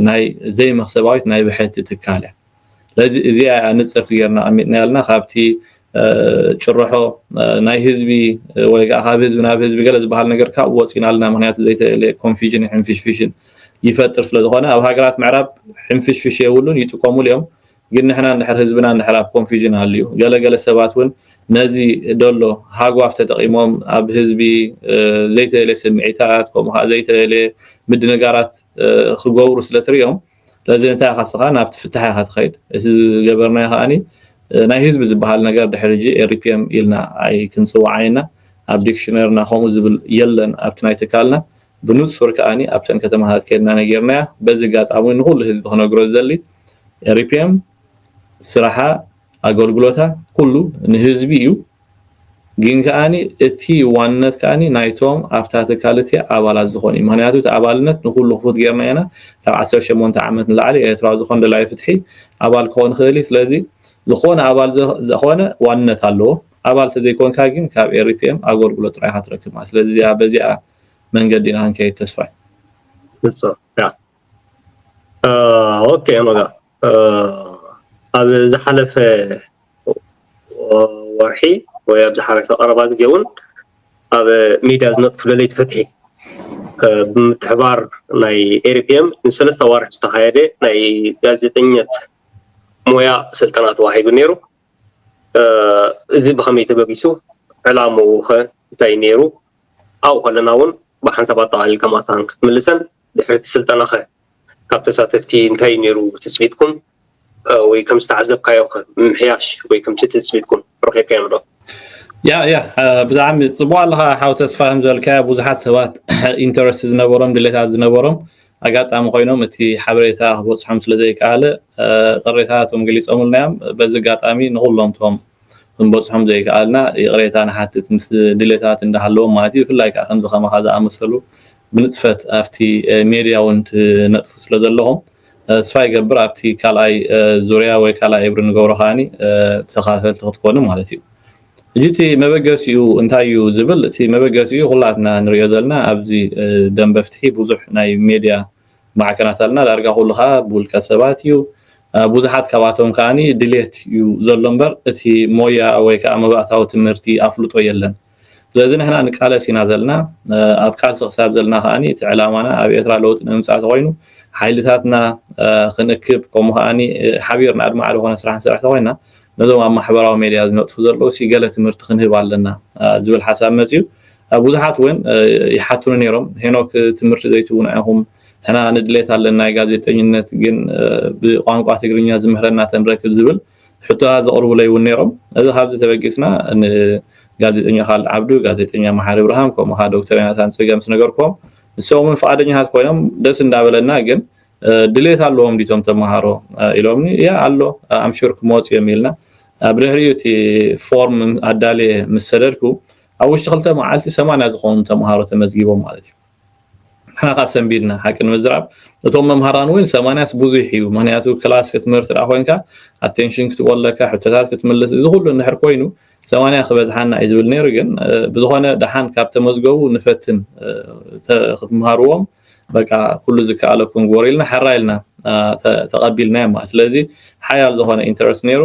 ናይ ዘይመክሰባዊት ናይ ብሕቲ ትካል እያ ስለዚ እዚኣ እያ ንፅርቲ ጌርና ኣቐሚጥናያ ዘለና ካብቲ ጭርሖ ናይ ህዝቢ ወይ ከዓ ካብ ህዝቢ ናብ ህዝቢ ገለ ዝበሃል ነገር ካብኡ ወፂና ኣለና ምክንያቱ ዘይተለ ኮንፊዥን ሕንፍሽፍሽን ይፈጥር ስለ ዝኾነ ኣብ ሃገራት ምዕራብ ሕንፍሽፍሽ የብሉን ይጥቀሙሉ እዮም ግን ንሕና እንድሕር ህዝብና እንድሕር ኣብ ኮንፊዥን ኣልዩ ገለገለ ሰባት እውን ነዚ ደሎ ሃጓፍ ተጠቂሞም ኣብ ህዝቢ ዘይተለየ ስምዒታት ከምኡ ከዓ ዘይተለየ ምድንጋራት ክገብሩ ስለትሪኦም ስለዚ እንታይ ኢኻ እስኻ ናብቲ ፍታሕ ኢኻ ትኸይድ እቲ ዝገበርናዮ ከኣኒ ናይ ህዝቢ ዝበሃል ነገር ድሕሪ ሕጂ ኤሪፒኤም ኢልና ኣይክንጽውዓይ እና ኣብ ዲክሽነርና ከምኡ ዝብል የለን ኣብቲ ናይ ትካልና ብንጹር ከኣኒ ኣብተን ከተማታት ከድና ነጊርናያ በዚ ኣጋጣሚ ንኹሉ ህዝቢ ክነግሮ ዝደሊ ኤሪፒኤም ስራሓ ኣገልግሎታ ኩሉ ንህዝቢ እዩ ግን ከኣ እቲ ዋንነት ከኣ ናይቶም ኣብታ ትካል እቲ ኣባላት ዝኾኑ እዩ ምክንያቱ እቲ ኣባልነት ንኩሉ ክፉት ጌርና ኢና ካብ ዓሰርተ ሸሞንተ ዓመት ንላዕሊ ኤርትራዊ ዝኾነ ደላይ ፍትሒ ኣባል ክኾን ይኽእል እዩ ስለዚ ዝኾነ ኣባል ዝኾነ ዋንነት ኣለዎ ኣባል ተዘይኮንካ ግን ካብ ኤሪፒኤም ኣገልግሎት ጥራይ ኢኻ ትረክብ ማለት ስለዚ እዚኣ በዚኣ መንገዲ ኢና ክንከይድ ተስፋይ ብፁዕ ኦኬ መጋ ኣብ ዝሓለፈ ወርሒ ወይ ኣብ ዝሓለፈ ቀረባ ግዜ እውን ኣብ ሚድያ ዝነጥፍ ደለይቲ ፍትሒ ብምትሕባር ናይ ኤሪፒኤም ንሰለስተ ኣዋርሕ ዝተኻየደ ናይ ጋዜጠኝነት ሞያ ስልጠና ተዋሂቡ ነይሩ እዚ ብከመይ ተበጊሱ ዕላምኡ ከ እንታይ ነይሩ ኣብኡ ከለና እውን ብሓንሳብ ኣጠቃሊልካ ማታን ክትምልሰን ድሕሪ እቲ ስልጠና ከ ካብ ተሳተፍቲ እንታይ እዩ ነይሩ ትጽቢትኩም ወይ ከም ዝተዓዘብካዮ ከ ምምሕያሽ ወይ ከምቲ ትጽቢትኩም ረኺብካዮም ዶ? ያ ያ ብጣዕሚ ጽቡቅ ኣለካ ሓው ተስፋ ዝበልካዮ ብዙሓት ሰባት ኢንተረስት ዝነበሮም ድሌታት ዝነበሮም ኣጋጣሚ ኮይኖም እቲ ሓበሬታ ክበጽሖም ስለ ዘይከኣለ ቅሬታታቶም ገሊጾምልና እዮም በዚ ኣጋጣሚ ንኩሎም ቶም ክንበጽሖም ዘይከኣልና ይቕሬታ ንሓትት ምስ ድሌታት እንዳሃለዎም ማለት እዩ ብፍላይ ከዓ ከምዚ ከማካ ዝኣመሰሉ ብንጥፈት ኣብቲ ሜድያ ውን ትነጥፉ ስለ ዘለኹም ተስፋ ይገብር ኣብቲ ካልኣይ ዙርያ ወይ ካልኣይ እብሪ ንገብሮ ከኣ ተኸታተልቲ ክትኮኑ ማለት እዩ። ሕጂ እቲ መበገሲኡ እንታይ እዩ ዝብል እቲ መበገሲኡ ኩላትና ንርእዮ ዘለና ኣብዚ ደምበ ፍትሒ ብዙሕ ናይ ሜድያ ማዕከናት ኣለና ዳርጋ ኩሉ ከኣ ብውልቀ ሰባት እዩ ብዙሓት ካባቶም ከኣ ድሌት እዩ ዘሎ እምበር እቲ ሞያ ወይ ከኣ መባእታዊ ትምህርቲ ኣፍልጦ የለን። ስለዚ ንሕና ንቃለስ ኢና ዘለና ኣብ ቃልሲ ክሳብ ዘለና ከኣ እቲ ዕላማና ኣብ ኤርትራ ለውጢ ንምምጻእ ተኮይኑ ሓይልታትና ክንእክብ ከምኡ ከኣ ሓቢርና ኣድማዒ ዝኾነ ስራሕ ንሰርሕ ተኮይና ነዞም ኣብ ማሕበራዊ ሜድያ ዝነጥፉ ዘለዉ ሲ ገለ ትምህርቲ ክንህብ ኣለና ዝብል ሓሳብ መጽዩ ብዙሓት እውን ይሓቱኒ ነይሮም ሄኖክ ትምህርቲ ዘይትቡና ኢኹም ሕና ንድሌት ኣለና ጋዜጠኝነት ግን ብቋንቋ ትግርኛ ዝምህረና ተንረክብ ዝብል ሕቶታት ዘቕርቡለይ እውን ነይሮም። እዚ ካብዚ ተበጊስና ንጋዜጠኛ ካልድ ዓብዱ፣ ጋዜጠኛ መሓሪ እብርሃም ከምኡ ከኣ ዶክተር ዮናታን ጽገ ምስ ነገርክዎም ንሶም እውን ፍቓደኛታት ኮይኖም ደስ እንዳበለና ግን ድሌት ኣለዎም ድዩ እቶም ተመሃሮ ኢሎምኒ እያ ኣሎ ኣምሹር ክመጹ እዮም ኢልና ኣብ ድሕሪኡ እቲ ፎርም ኣዳልየ ምስ ሰደድኩ ኣብ ውሽጢ ክልተ መዓልቲ ሰማንያ ዝኾኑ ተመሃሮ ተመዝጊቦም ማለት እዩ። ንሓኻ ሰንቢድና ሓቂ ንምዝራብ እቶም መምሃራን እውን ሰማንያስ ብዙሕ እዩ ምክንያቱ ክላስ ክትምህር ትዳ ኮንካ ኣቴንሽን ክትቦ ኣለካ ሕቶታት ክትምልስ እዚ ኩሉ እንድሕር ኮይኑ ሰማንያ ክበዝሓና እዩ ዝብል ነይሩ ግን ብዝኾነ ደሓን ካብ ተመዝገቡ ንፈትን ክትምሃርዎም በቃ ኩሉ ዝከኣለኩም ግበሩ ኢልና ሓራ ኢልና ተቐቢልና እማ ስለዚ ሓያል ዝኾነ ኢንተረስት ነይሩ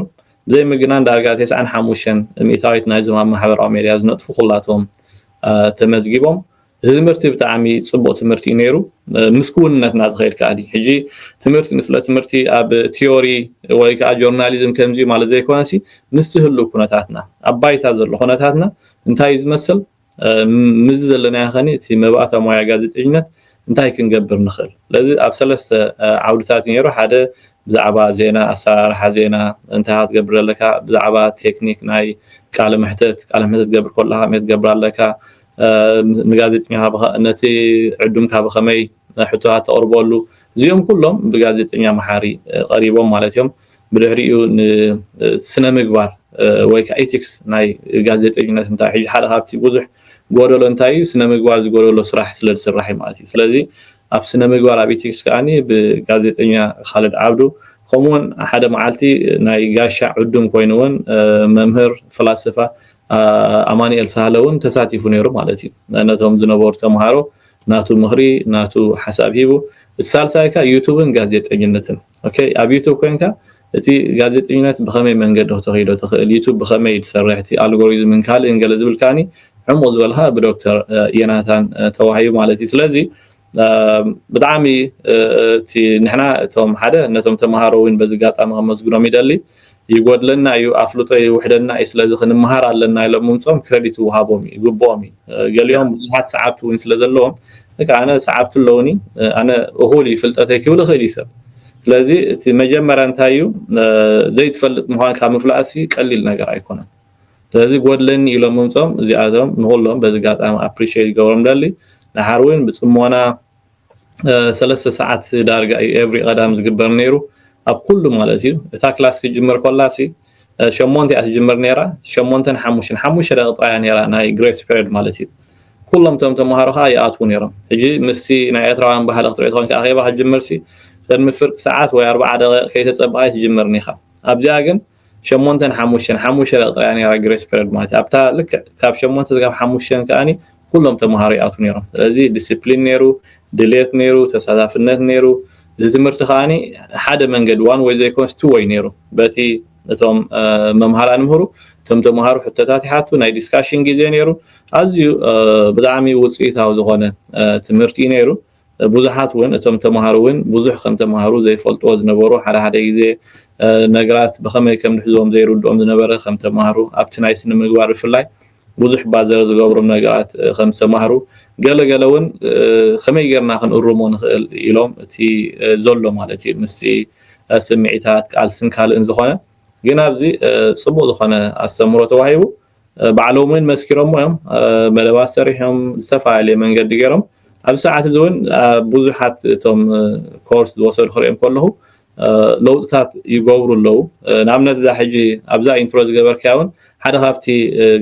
ብዘይ ምግናን ዳርጋ ቴስዓን ሓሙሽተን ሚእታዊት ናይዞም ኣብ ማሕበራዊ ሜድያ ዝነጥፉ ኩላቶም ተመዝጊቦም እዚ ትምህርቲ ብጣዕሚ ጽቡቅ ትምህርቲ እዩ ነይሩ ምስ ክውንነት እናተኸይድ ከኣ ሕጂ ትምህርቲ ንስለ ትምህርቲ ኣብ ቲዮሪ ወይ ከዓ ጆርናሊዝም ከምዚ ማለት ዘይኮነሲ ምስ ዝህሉ ኩነታትና ኣብ ባይታ ዘሎ ኩነታትና እንታይ ዝመስል ምዚ ዘለናዮ ኸኒ እቲ መባእታ ሞያ ጋዜጠኝነት እንታይ ክንገብር ንኽእል ስለዚ ኣብ ሰለስተ ዓውድታት ነይሩ ሓደ ብዛዕባ ዜና ኣሰራርሓ ዜና እንታይ ክትገብር ኣለካ ብዛዕባ ቴክኒክ ናይ ቃለ መሕተት ቃለ መሕተት ትገብር ከለካ መት ትገብር ኣለካ ንጋዜጠኛ ነቲ ዕዱምካ ብኸመይ ሕቶታት ተቕርበሉ እዚኦም ኩሎም ብጋዜጠኛ መሓሪ ቀሪቦም ማለት እዮም ብድሕሪኡ ንስነ ምግባር ወይ ከዓ ኢቲክስ ናይ ጋዜጠኝነት እንታይ ሕጂ ሓደ ካብቲ ብዙሕ ጎደሎ እንታይ እዩ ስነ ምግባር ዝጎደሎ ስራሕ ስለ ዝስራሕ እዩ ማለት እዩ ስለዚ ኣብ ስነ ምግባር ኣብ ኢቲክስ ከዓኒ ብጋዜጠኛ ካልድ ዓብዱ ከምኡውን ሓደ መዓልቲ ናይ ጋሻ ዕዱም ኮይኑ እውን መምህር ፍላስፋ ኣማኒኤል ሳህለ ውን ተሳቲፉ ነይሩ ማለት እዩ ነቶም ዝነበሩ ተምሃሮ ናቱ ምኽሪ ናቱ ሓሳብ ሂቡ እቲ ሳልሳይ ከ ዩቱብን ጋዜጠኝነትን ኦኬ ኣብ ዩቱብ ኮንካ እቲ ጋዜጠኝነት ብኸመይ መንገዲ ክተኽይዶ ትኽእል ዩቱብ ብኸመይ ትሰርሕ እቲ ኣልጎሪዝምን ካልእን ገለ ዝብል ከዓኒ ዕሙቕ ዝበልካ ብዶክተር የናታን ተዋሂቡ ማለት እዩ ስለዚ ብጣዕሚ እቲ ንሕና እቶም ሓደ ነቶም ተምሃሮ እውን በዚ ኣጋጣሚ ከመስግኖም ይደሊ ይጎድለና እዩ ኣፍልጦ ይውሕደና እዩ ስለዚ ክንምሃር ኣለና ኢሎም ምምፆም ክረዲት ይውሃቦም እዩ ይግብኦም እዩ ገሊኦም ብዙሓት ሰዓብቲ እውን ስለ ዘለዎም ንካ ኣነ ሰዓብቲ ኣለውኒ ኣነ እኹል እዩ ፍልጠተይ ክብል ይኽእል እዩ ሰብ ስለዚ እቲ መጀመርያ እንታይ እዩ ዘይትፈልጥ ምዃን ካብ ምፍላጥሲ ቀሊል ነገር ኣይኮነን ስለዚ ጎድለኒ ኢሎም ምምጾም እዚኣቶም ንኹሎም በዚ ኣጋጣሚ ኣፕሪሸት ክገብሮም እደሊ። ደሓር ውን ብጽሞና ሰለስተ ሰዓት ዳርጋ እዩ ኤቭሪ ቀዳም ዝግበር ኔሩ ኣብ ኩሉ ማለት እዩ። እታ ክላስ ክትጅምር ኮላሲ ሸሞንተ እያ ትጅምር ኔራ ሸሞንተን ሓሙሽተን ሓሙሽተ ደቂቅ ጥራይ እያ ኔራ ናይ ግሬስ ፔሬድ ማለት እዩ። ኩሎም እቶም ተማሃሮ ከኣ ይኣትዉ ኔሮም። ሕጂ ምስቲ ናይ ኤርትራውያን ባህሊ ክትርኢ ተኮንካ ኣኼባ ክትጅምርሲ ቅድሚ ፍርቂ ሰዓት ወይ ኣርብዓ ደቂቅ ከይተጸበቃይ ትጅምር ኒኻ ኣብዚኣ ግን ሸሞንተን ሓሙሽተን ሓሙሽተ ደቂ ጥራይ እያ ኔራ ግሬስ ፔረድ ማለት እያ ኣብታ ልክዕ ካብ ሸሞንተ ስጋብ ሓሙሽተን ከኣኒ ኩሎም ተምሃሮ ይኣትዉ ኔሮም ስለዚ ዲሲፕሊን ኔሩ ድልየት ኔሩ ተሳታፍነት ኔሩ እዚ ትምህርቲ ከኣኒ ሓደ መንገዲ ዋን ወይ ዘይኮነስ ቱ ወይ ኔሩ በቲ እቶም መምሃራን ምህሩ እቶም ተምሃሩ ሕቶታት ይሓቱ ናይ ዲስካሽን ግዜ ኔሩ ኣዝዩ ብጣዕሚ ውፅኢታዊ ዝኾነ ትምህርቲ እዩ ኔሩ ብዙሓት ውን እቶም ተማሃሩ ውን ብዙሕ ከም ተማሃሩ ዘይፈልጥዎ ዝነበሩ ሓደ ሓደ ግዜ ነግራት ብኸመይ ከም ንሕዝዎም ዘይርድኦም ዝነበረ ከም ተማሃሩ ኣብቲ ናይ ስነምግባር ብፍላይ ብዙሕ ባዘር ዝገብሩ ነግራት ከም ዝተማህሩ ገለ ገለ ውን ከመይ ገርና ክንእርሞ ንኽእል ኢሎም እቲ ዘሎ ማለት እዩ ምስቲ ስምዒታት ቃልስን ካልእን ዝኾነ ግን ኣብዚ ጽቡቕ ዝኾነ ኣስተምህሮ ተዋሂቡ ባዕሎም እውን መስኪሮሞ እዮም መደባት ሰሪሖም ዝተፈላለየ መንገዲ ገይሮም ኣብዚ ሰዓት እዚ እውን ብዙሓት እቶም ኮርስ ዝወሰዱ ክሪኦም ከለኹ ለውጥታት ይገብሩ ኣለዉ ንኣብነት እዛ ሕጂ ኣብዛ ኢንትሮ ዝገበርክያ እውን ሓደ ካብቲ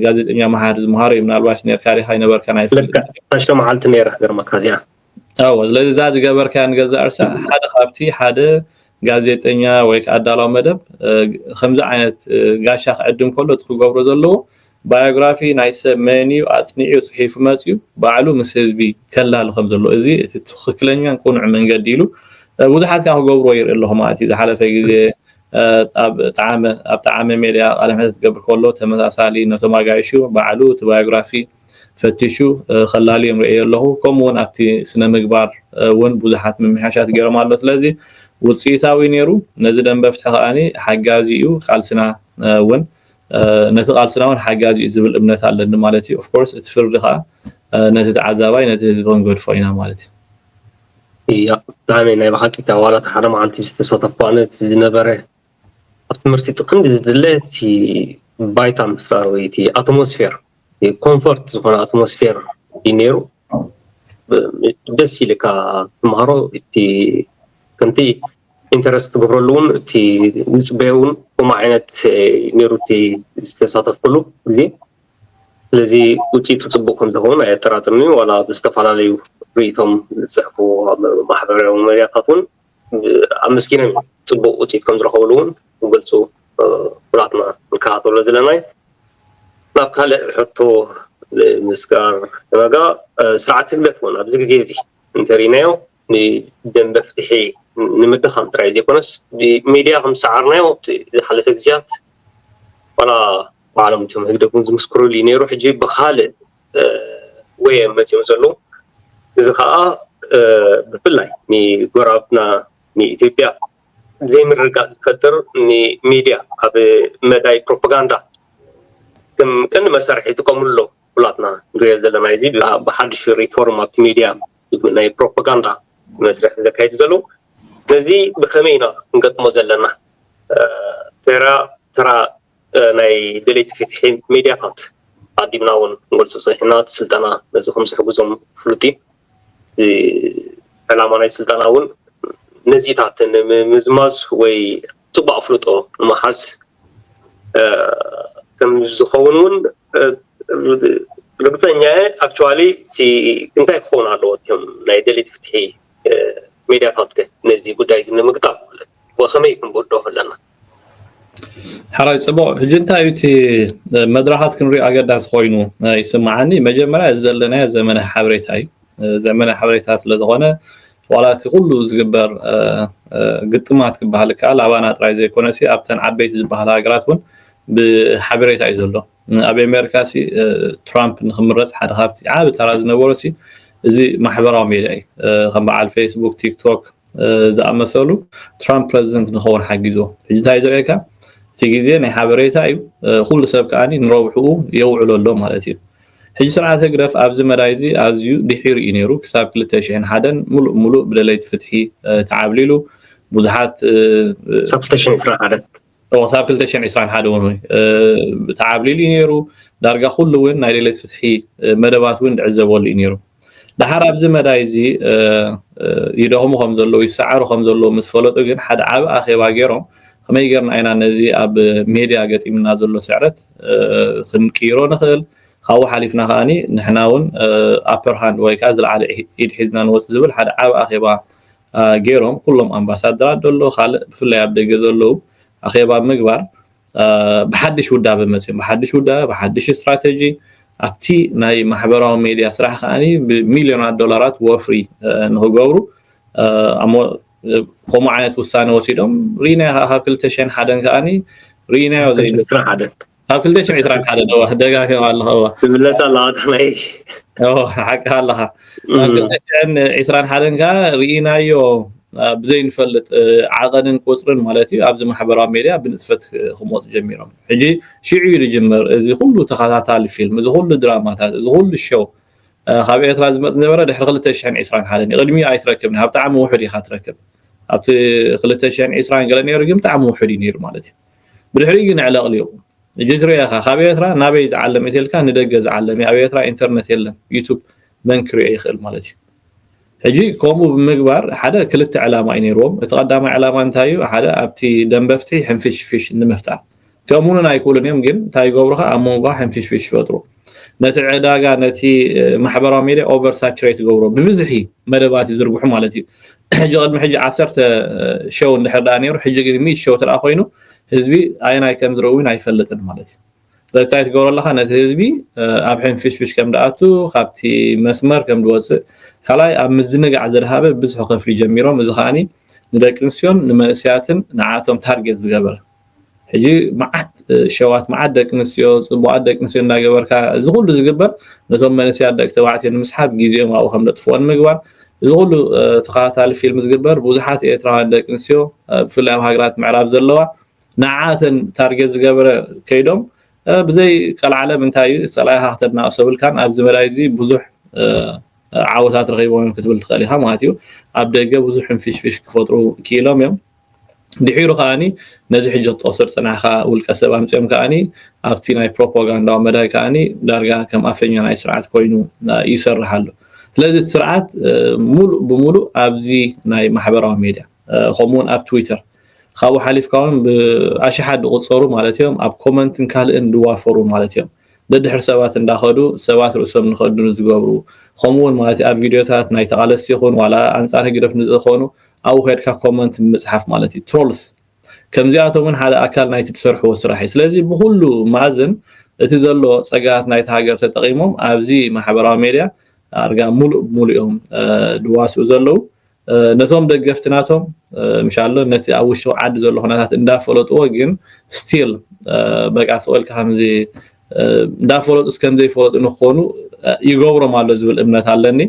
ጋዜጠኛ መሃሪ ዝምሃሮ እዩ ምናልባሽ ነርካ ዲካ ይነበርካ ናይ ሰለስተ መዓልቲ ነይራ ግርመካ እዚኣ ኣዎ ስለዚ እዛ ዝገበርካያ ንገዛእ ርእሳ ሓደ ካብቲ ሓደ ጋዜጠኛ ወይ ከዓ ኣዳላዊ መደብ ከምዚ ዓይነት ጋሻ ክዕድም ከሎ እቲ ክገብሮ ዘለዎ ባዮግራፊ ናይ ሰብ መን እዩ ኣፅኒዑ ፅሒፉ መፅዩ ባዕሉ ምስ ህዝቢ ከላሊ ከም ዘለዎ እዚ እቲ ትክክለኛን ቅኑዕ መንገዲ ኢሉ ብዙሓት ከዓ ክገብርዎ ይርኢ ኣለኹ ማለት እዩ ዝሓለፈ ግዜ ኣብ ጣዓመ ኣብ ጣዓመ ሜድያ ቃለ መሕተት ክገብር ከሎ ተመሳሳሊ ነቶም ኣጋይሹ ባዕሉ እቲ ባዮግራፊ ፈቲሹ ከላልዮም ርእየዮ ኣለኹ። ከምኡ ውን ኣብቲ ስነ ምግባር ውን ብዙሓት ምምሕያሻት ገይሮም ኣሎ። ስለዚ ውጽኢታዊ ነይሩ። ነዚ ደንበ ፍትሒ ከኣ ሓጋዚ እዩ ቃልስና ውን ነቲ ቃልስና ውን ሓጋዚ እዩ ዝብል እምነት ኣለኒ ማለት እዩ። ኦፍ ኮርስ እቲ ፍርዲ ከኣ ነቲ ተዓዛባይ ነቲ ህዝቢ ክንገድፎ ኢና ማለት እዩ። እያ ብጣዕሚ ናይ ብሓቂ እታ ዋላ እታ ሓደ መዓልቲ ዝተሳተፍኩዋ ነት ዝነበረ ኣብ ትምህርቲ እቲ ቀንዲ ዝድለ እቲ ባይታ ምፍጣር ወይ እቲ ኣትሞስፌር ኮንፎርት ዝኾነ ኣትሞስፌር እዩ ነይሩ ደስ ኢልካ ትምሃሮ እቲ ከምቲ ኢንተረስት ትገብረሉ እውን እቲ ዝፅበዮ እውን ከምኡ ዓይነት ነይሩ እቲ ዝተሳተፍኩሉ ግዜ ስለዚ ውፅኢቱ ፅቡቅ ከምዝኸውን ኣየጠራጥርኒ ዋላ ብዝተፈላለዩ ርእቶም ዝፅሕፉ ማሕበራዊ መድያታት እውን ኣመስጊኖም እዮም ፅቡቅ ውፅኢት ከምዝረኸብሉ እውን ክገልፁ ኩላትና ንከታተሎ ዘለና እዩ ናብ ካልእ ሕቶ ንምስጋር ዋጋ ስርዓት ህግደፍ እውን ኣብዚ ግዜ እዚ እንተሪእናዮ ንደንበ ፍትሒ ንምድኻም ጥራይ ዘይኮነስ ብሚድያ ከም ዝሰዓርናዮ ኣብቲ ዝሓለፈ ግዜያት ዋላ ባዕሎም እቶም ህግደፍ እውን ዝምስክርሉ እዩ ነይሩ ሕጂ ብካልእ ወየም መፂኦም ዘለዉ እዚ ከዓ ብፍላይ ንጎረባብትና ንኢትዮጵያ ዘይምርግጋእ ዝፈጥር ንሚድያ ኣብ መዳይ ፕሮፓጋንዳ ከም ቀንዲ መሳርሒ ይጥቀምሉ ኣለዉ ኩላትና ንሪኦ ዘለና እዚ ብሓዱሽ ሪፎርም ኣብቲ ሚድያ ናይ ፕሮፓጋንዳ መስርሕ ዘካይዱ ዘለዉ ነዚ ብከመይ ኢና ክንገጥሞ ዘለና ተራ ተራ ናይ ደለይቲ ፊትሒ ሜድያታት ኣቅዲምና እውን ክንገልፆ ፀኒሕና እቲ ስልጠና ነዚ ከምዝሕግዞም ፍሉጥ እዩ። እቲ ዕላማ ናይ ስልጠና እውን ነዚታት ንምዝማዝ ወይ ፅቡቅ ኣፍልጦ ንምሓዝ ከምዝኸውን እውን ርግፀኛ እየ ኣክቹዋሊ እቲ እንታይ ክኸውን ኣለዎ እም ናይ ደልት ፍትሒ ሜድያታት ከ ነዚ ጉዳይ እዚ ንምግጣም ማለት ወይ ከመይ ክንብዶ ኣለና ሓራይ ፅቡቕ ሕጂ እንታይ እዩ እቲ መድረኻት ክንሪኦ ኣገዳሲ ኮይኑ ይስምዓኒ መጀመርያ እዚ ዘለናዮ ዘመነ ሓበሬታ እዩ ዘመነ ሓበሬታ ስለዝኾነ ዋላ እቲ ኩሉ ዝግበር ግጥማት ክበሃል ከኣል ኣባና ጥራይ ዘይኮነሲ ኣብተን ዓበይቲ ዝበሃላ ሃገራት እውን ብሓበሬታ እዩ ዘሎ ኣብ ኣሜሪካ ሲ ትራምፕ ንክምረፅ ሓደ ካብቲ ዓቢ ተራ ዝነበሮ ሲ እዚ ማሕበራዊ ሜድያ እዩ ከም በዓል ፌስቡክ ቲክቶክ ዝኣመሰሉ ትራምፕ ፕረዚደንት ንኸውን ሓጊዞ ሕጂ እንታይ ዝርእየካ እቲ ግዜ ናይ ሓበሬታ እዩ ኩሉ ሰብ ከዓ ንረብሕኡ የውዕሎ ኣሎ ማለት እዩ ሕጂ ስርዓት ህግደፍ ኣብዚ መዳይ እዚ ኣዝዩ ድሒሩ እዩ ነይሩ ክሳብ 2001 ሙሉእ ሙሉእ ብደለይቲ ፍትሒ ተዓብሊሉ ብዙሓት ክሳብ 2021 ክሳብ ክልተ ሽሕን ዒስራን ሓደ እውን ተዓብሊሉ እዩ ነይሩ ዳርጋ ኩሉ እውን ናይ ሌለት ፍትሒ መደባት እውን ዝዕዘበሉ እዩ ነይሩ ድሓር ኣብዚ መዳይ እዚ ይደኽሙ ከም ዘለዉ ይሰዓሩ ከም ዘለዉ ምስ ፈለጡ ግን ሓደ ዓብ ኣኼባ ገይሮም ከመይ ጌርና ኢና ነዚ ኣብ ሜድያ ገጢምና ዘሎ ስዕረት ክንቅይሮ ንኽእል ካብኡ ሓሊፍና ከዓኒ ንሕና እውን ኣፐር ሃንድ ወይ ከዓ ዝለዓለ ኢድ ሒዝና ንወፅ ዝብል ሓደ ዓብ ኣኼባ ጌሮም ኩሎም ኣምባሳድራት ደሎ ካልእ ብፍላይ ኣብ ደገ ዘለዉ ኣኼባ ብምግባር ብሓድሽ ውዳበ መጺኦም ብሓድሽ ውዳበ ብሓድሽ ስትራተጂ ኣብቲ ናይ ማሕበራዊ ሜድያ ስራሕ ከዓ ብሚልዮናት ዶላራት ወፍሪ ንክገብሩ ከምኡ ዓይነት ውሳነ ወሲዶም ሪኢናዮ ካብ ክልተ ሽሕን ሓደን ከዓኒ ሪኢናዮ ዘይስራሕ ሓደ ኣብ ክልተ ሽሕ ዒስራን ሓደን እወ ደጋጊመ ኣለኹ እወ ትምለስ ኣለኻ ጥቕመይ እወ ሓቅኻ ኣለኻ ኣብ ክልተ ሽሕን ዒስራን ሓደን ከዓ ርኢናዮ ብዘይንፈልጥ ዓቐንን ቁፅርን ማለት እዩ ኣብዚ ማሕበራዊ ሜድያ ብንጥፈት ክመፁ ጀሚሮም ሕጂ ሽዑ እዩ ዝጅምር እዚ ኩሉ ተኸታታሊ ፊልም እዚ ኩሉ ድራማታት እዚ ኩሉ ሸው ካብ ኤርትራ ዝመፅ ዝነበረ ድሕሪ ክልተ ሽሕን ዒስራን ሓደን እዩ ቅድሚኡ ኣይትረክብን ኣብ ጣዕሚ ውሑድ ኢኻ ትረክብ ኣብቲ ክልተ ሽሕን ዒስራን ገለ ነይሩ ግን ብጣዕሚ ውሑድ እዩ ነይሩ ማለት እዩ ብድሕሪኡ ግን ዕለቅሊቁ ጅግሬ ኢኻ ካብ ኤርትራ ናበይ ዝዓለም እዩ ተልካ ንደገ ዝዓለም እዩ ኣብ ኤርትራ ኢንተርነት የለን ዩቱብ መን ክሪኦ ይኽእል ማለት እዩ ሕጂ ከምኡ ብምግባር ሓደ ክልተ ዕላማ እዩ ነይርዎም እቲ ቀዳማይ ዕላማ እንታይ እዩ ሓደ ኣብቲ ደንበፍትሒ ሕንፍሽፍሽ ንምፍጣር ከምኡውን ኣይክእሉን እዮም ግን እንታይ ይገብሩኻ ኣብ መንጎኻ ሕንፍሽፍሽ ይፈጥሩ ነቲ ዕዳጋ ነቲ ማሕበራዊ ሜድያ ኦቨር ሳቹሬት ይገብሮ ብብዝሒ መደባት ይዝርግሑ ማለት እዩ ሕጂ ቅድሚ ሕጂ ዓሰርተ ሸው እንድሕር ደኣ ነይሩ ሕጂ ግን ሚት ሸው ትርኣ ኮይኑ ህዝቢ ኣየናይ ከም ዝርኢ እውን ኣይፈልጥን ማለት እዩ ስለዚ እንታይ ትገብሮ ኣለካ ነቲ ህዝቢ ኣብ ሕንፍሽፍሽ ከም ደኣቱ ካብቲ መስመር ከም ዝወፅእ ካልኣይ ኣብ ምዝንጋዕ ዘድሃበ ብዝሑ ከፍሊ ጀሚሮም እዚ ከዓኒ ንደቂ ኣንስትዮን ንመንእሰያትን ንዓቶም ታርጌት ዝገበረ ሕጂ መዓት ሸዋት መዓት ደቂ ኣንስትዮ ጽቡቓት ደቂ ኣንስትዮ እንዳገበርካ እዚ ኩሉ ዝግበር ነቶም መንእሰያት ደቂ ተባዕትዮ ንምስሓብ ግዜኦም ኣብኡ ከም ዘጥፍኦ ንምግባር እዚ ኩሉ ተኸታታሊ ፊልም ዝግበር ብዙሓት ኤርትራውያን ደቂ ኣንስትዮ ብፍላይ ኣብ ሃገራት ምዕራብ ዘለዋ ንዓኣተን ታርጌት ዝገበረ ከይዶም ብዘይ ቀልዓለም እንታይ እዩ ጸላኢኻ ክተናእሶ ብልካን ኣብዚ መዳይ እዚ ብዙሕ ዓወታት ረኺቦም እዮም ክትብል ትኽእል ኢኻ ማለት እዩ ኣብ ደገ ብዙሕ ሕንፍሽፍሽ ክፈጥሩ ክኢሎም እዮም ድሒሩ ከኣ ነዚ ሕጂ ክትጠቕሶ ዝጸናሕካ ውልቀሰብ ኣምጺኦም ከኣ ኣብቲ ናይ ፕሮፓጋንዳዊ መዳይ ከኣ ዳርጋ ከም ኣፈኛ ናይ ስርዓት ኮይኑ ይሰርሕ ኣሎ ስለዚ እቲ ስርዓት ሙሉእ ብሙሉእ ኣብዚ ናይ ማሕበራዊ ሜድያ ከምኡ ውን ኣብ ትዊተር ካብኡ ሓሊፍካ ውን ብኣሽሓት ዝቑፀሩ ማለት እዮም ኣብ ኮመንትን ካልእን ዝዋፈሩ ማለት እዮም ደድሕሪ ሰባት እንዳኸዱ ሰባት ርእሶም ንኸድኑ ዝገብሩ ኸምኡ ውን ማለት ኣብ ቪድዮታት ናይ ተቓለስቲ ይኹን ዋላ ኣንጻር ህግደፍ ንዝኾኑ ኣብኡ ኸድካ ኮመንት ምጽሓፍ ማለት እዩ ትሮልስ ከምዚኣቶም ውን ሓደ ኣካል ናይቲ ትሰርሕዎ ስራሕ እዩ ስለዚ ብኹሉ መኣዝን እቲ ዘሎ ጸጋታት ናይቲ ሃገር ተጠቒሞም ኣብዚ ማሕበራዊ ሜድያ ኣርጋ ሙሉእ ብሙሉእ እዮም ድዋስኡ ዘለዉ ነቶም ደገፍቲ ናቶም ምሻሎ ነቲ ኣብ ውሽጢ ዓዲ ዘሎ ኩነታት እንዳፈለጥዎ ግን ስቲል በቃ ስቕ ኢልካ ከምዚ እንዳፈለጡስ ከምዘይፈለጡ ንክኾኑ ይገብሮም ኣሎ ዝብል እምነት ኣለኒ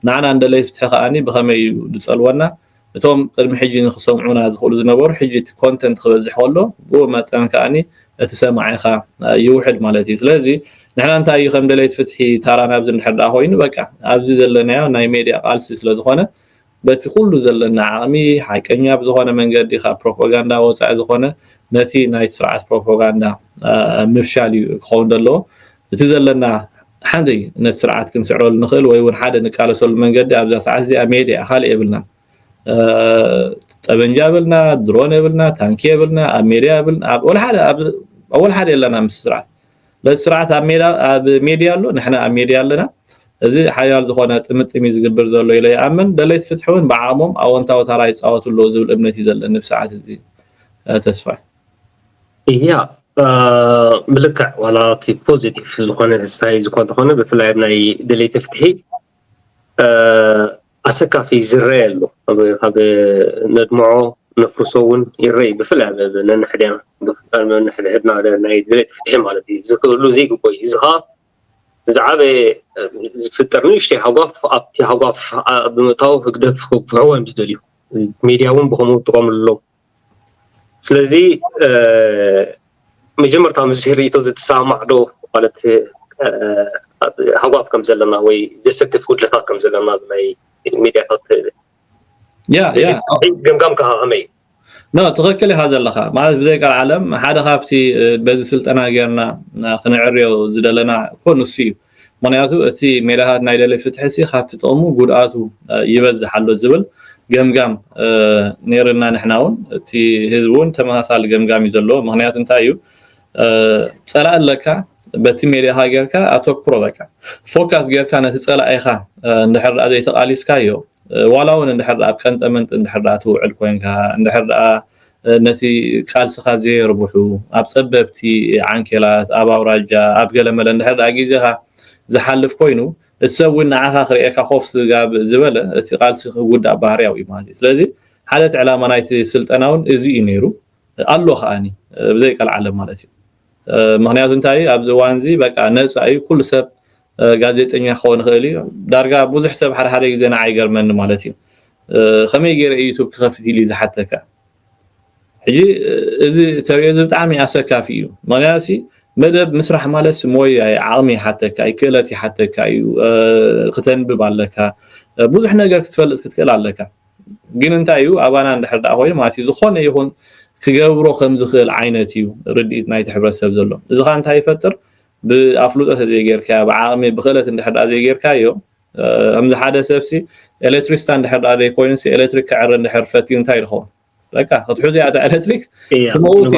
ንዓና እንደለይ ፍትሒ ከዓኒ ብኸመይ እዩ ዝፀልወና እቶም ቅድሚ ሕጂ ንክሰምዑና ዝኽእሉ ዝነበሩ ሕጂ እቲ ኮንተንት ክበዝሕ ከሎ ብኡ መጠን ከዓኒ እቲ ሰማዒ ከኣ ይውሕድ ማለት እዩ ስለዚ ንሕና እንታይ እዩ ከም ደለይቲ ፍትሒ ታራና ኣብዚ እንድሕር ደኣ ኮይኑ በቃ ኣብዚ ዘለናዮ ናይ ሜድያ ቃልሲ ስለ ዝኾነ በቲ ኩሉ ዘለና ዓቕሚ ሓቀኛ ብዝኾነ መንገዲ ካብ ፕሮፓጋንዳ ወጻኢ ዝኾነ ነቲ ናይቲ ስርዓት ፕሮፓጋንዳ ምፍሻል እዩ ክኸውን ዘለዎ እቲ ዘለና ሓንቲ ነቲ ስርዓት ክንስዕረሉ ንኽእል ወይ እውን ሓደ ንቃለሰሉ መንገዲ ኣብዛ ሰዓት እዚኣ ሜድያ ካልእ የብልናን ጠበንጃ የብልና ድሮን የብልና ታንኪ የብልና ኣብ ሜድያ የብልና ኣብ ወላ ሓደ የለና ምስ ስርዓት ለዚ ስርዓት ኣብ ሜድያ ኣሎ ንሕና ኣብ ሜድያ ኣለና እዚ ሓያል ዝኾነ ጥምጥም እዩ ዝግብር ዘሎ ኢለ ይኣምን ደለይቲ ፍትሒ እውን ብዓቕሞም ኣወንታዊ ታራ ይፃወቱ ኣለዉ ዝብል እምነት እዩ ዘለኒ ብሰዓት እዚ ተስፋይ እያ ምልክዕ ዋላ እቲ ፖዚቲቭ ዝኾነ ሳይ ዝኾነ ዝኾነ ብፍላይ ናይ ደለይቲ ፍትሒ ኣሰካፊ ዝረኤ ኣሎ ኣብ ነድምዖ ነፍርሶ ውን ይረኢ ብፍላይ ኣብ ነንሕድና ብፍላይ ነንሕድሕድና ናይ ድሌት ፍትሒ ማለት እዩ ዝክህሉ ዘይግቦ እዩ እዚ ከዓ ዝዓበየ ዝፍጠር ንእሽተይ ሃጓፍ ኣብቲ ሃጓፍ ብምእታው ህግደፍ ክወቅዕዎ እዮም ዝደልዩ ሚድያ ውን ብከምኡ ይጥቀምሉ ኣለዉ ስለዚ መጀመርታ ምስ ርእይቶ ዝትሰማማዕ ዶ ማለት ሃጓፍ ከም ዘለና ወይ ዘሰክፍ ጉድለታት ከም ዘለና ናይ ሚድያታት ገምጋምካ ከመይ እዩ? ትኽክል ኢኻ ዘለኻ ማለት ብዘይ ቀልዓለም ሓደ ካብቲ በዚ ስልጠና ጌርና ክነዕርዮ ዝደለና እኮ ንሱ እዩ። ምኽንያቱ እቲ ሜላታት ናይ ደለይ ፍትሒሲ ካብቲ ጥቕሙ ጉድኣቱ ይበዝሕ ኣሎ ዝብል ገምጋም ነይሩና ንሕና ውን እቲ ህዝቢ ውን ተመሳሳሊ ገምጋም እዩ ዘለዎ ምኽንያቱ እንታይ እዩ ጸላኢ ኣለካ በቲ ሜድያኻ ጌርካ ኣተኩሮ በቃ ፎካስ ጌርካ ነቲ ጸላኢኻ እንድሕር ደኣ ዘይተቓሊስካዮ ዋላ እውን እንድሕር ደኣ ኣብ ቀንጠመንጢ እንድሕር ደኣ ትውዕል ኮንካ እንድሕር ደኣ ነቲ ቃልስኻ ዘየርብሑ፣ ኣብ ጸበብቲ ዓንኬላት፣ ኣብ ኣውራጃ፣ ኣብ ገለመለ እንድሕር ደኣ ግዜኻ ዝሓልፍ ኮይኑ፣ እቲ ሰብ እውን ንዓኻ ክርእየካ ኮፍ ስጋብ ዝበለ፣ እቲ ቃልሲ ክጉዳእ ባህርያዊ እዩ ማለት እዩ። ስለዚ ሓደ እቲ ዕላማ ናይቲ ስልጠና እውን እዚ እዩ ነይሩ፣ ኣሎ ከኣኒ ብዘይቀልዓለም ማለት እዩ። ምኽንያቱ እንታይ ኣብ'ዚ እዋን'ዚ በቃ ነጻ እዩ ኩሉ ሰብ ጋዜጠኛ ክኸውን ይኽእል እዩ ዳርጋ ብዙሕ ሰብ ሓደ ሓደ ግዜ ንዓ ይገርመኒ ማለት እዩ ከመይ ገይረ ዩቱብ ክኸፍት ኢሉ ዝሓተካ ሕጂ እዚ ተሪኦ እዚ ብጣዕሚ ኣሰካፊ እዩ ምክንያቱ መደብ ምስራሕ ማለት ሞያ ዓቕሚ ይሓተካ እዩ ክእለት ይሓተካ እዩ ክተንብብ ኣለካ ብዙሕ ነገር ክትፈልጥ ክትክእል ኣለካ ግን እንታይ እዩ ኣባና እንድሕር ዳኣ ኮይኑ ማለት እዩ ዝኾነ ይኹን ክገብሮ ከም ዝኽእል ዓይነት እዩ ርድኢት ናይቲ ሕብረተሰብ ዘሎ እዚ ከዓ እንታይ ይፈጥር ብኣፍልጦ ተዘይገይርካዮ ብዓቕሚ ብኽእለት እንድሕር ድኣ ዘይገይርካዮ ከምዚ ሓደ ሰብሲ ኤሌክትሪስታ እንድሕር ድኣ ዘይኮይኑሲ ኤሌክትሪክ ክዕሪ እንድሕር ፈትዩ እንታይ ኢሉ ኸውን በቃ ክትሕዙ እያ እታ ኤሌክትሪክ ክመውት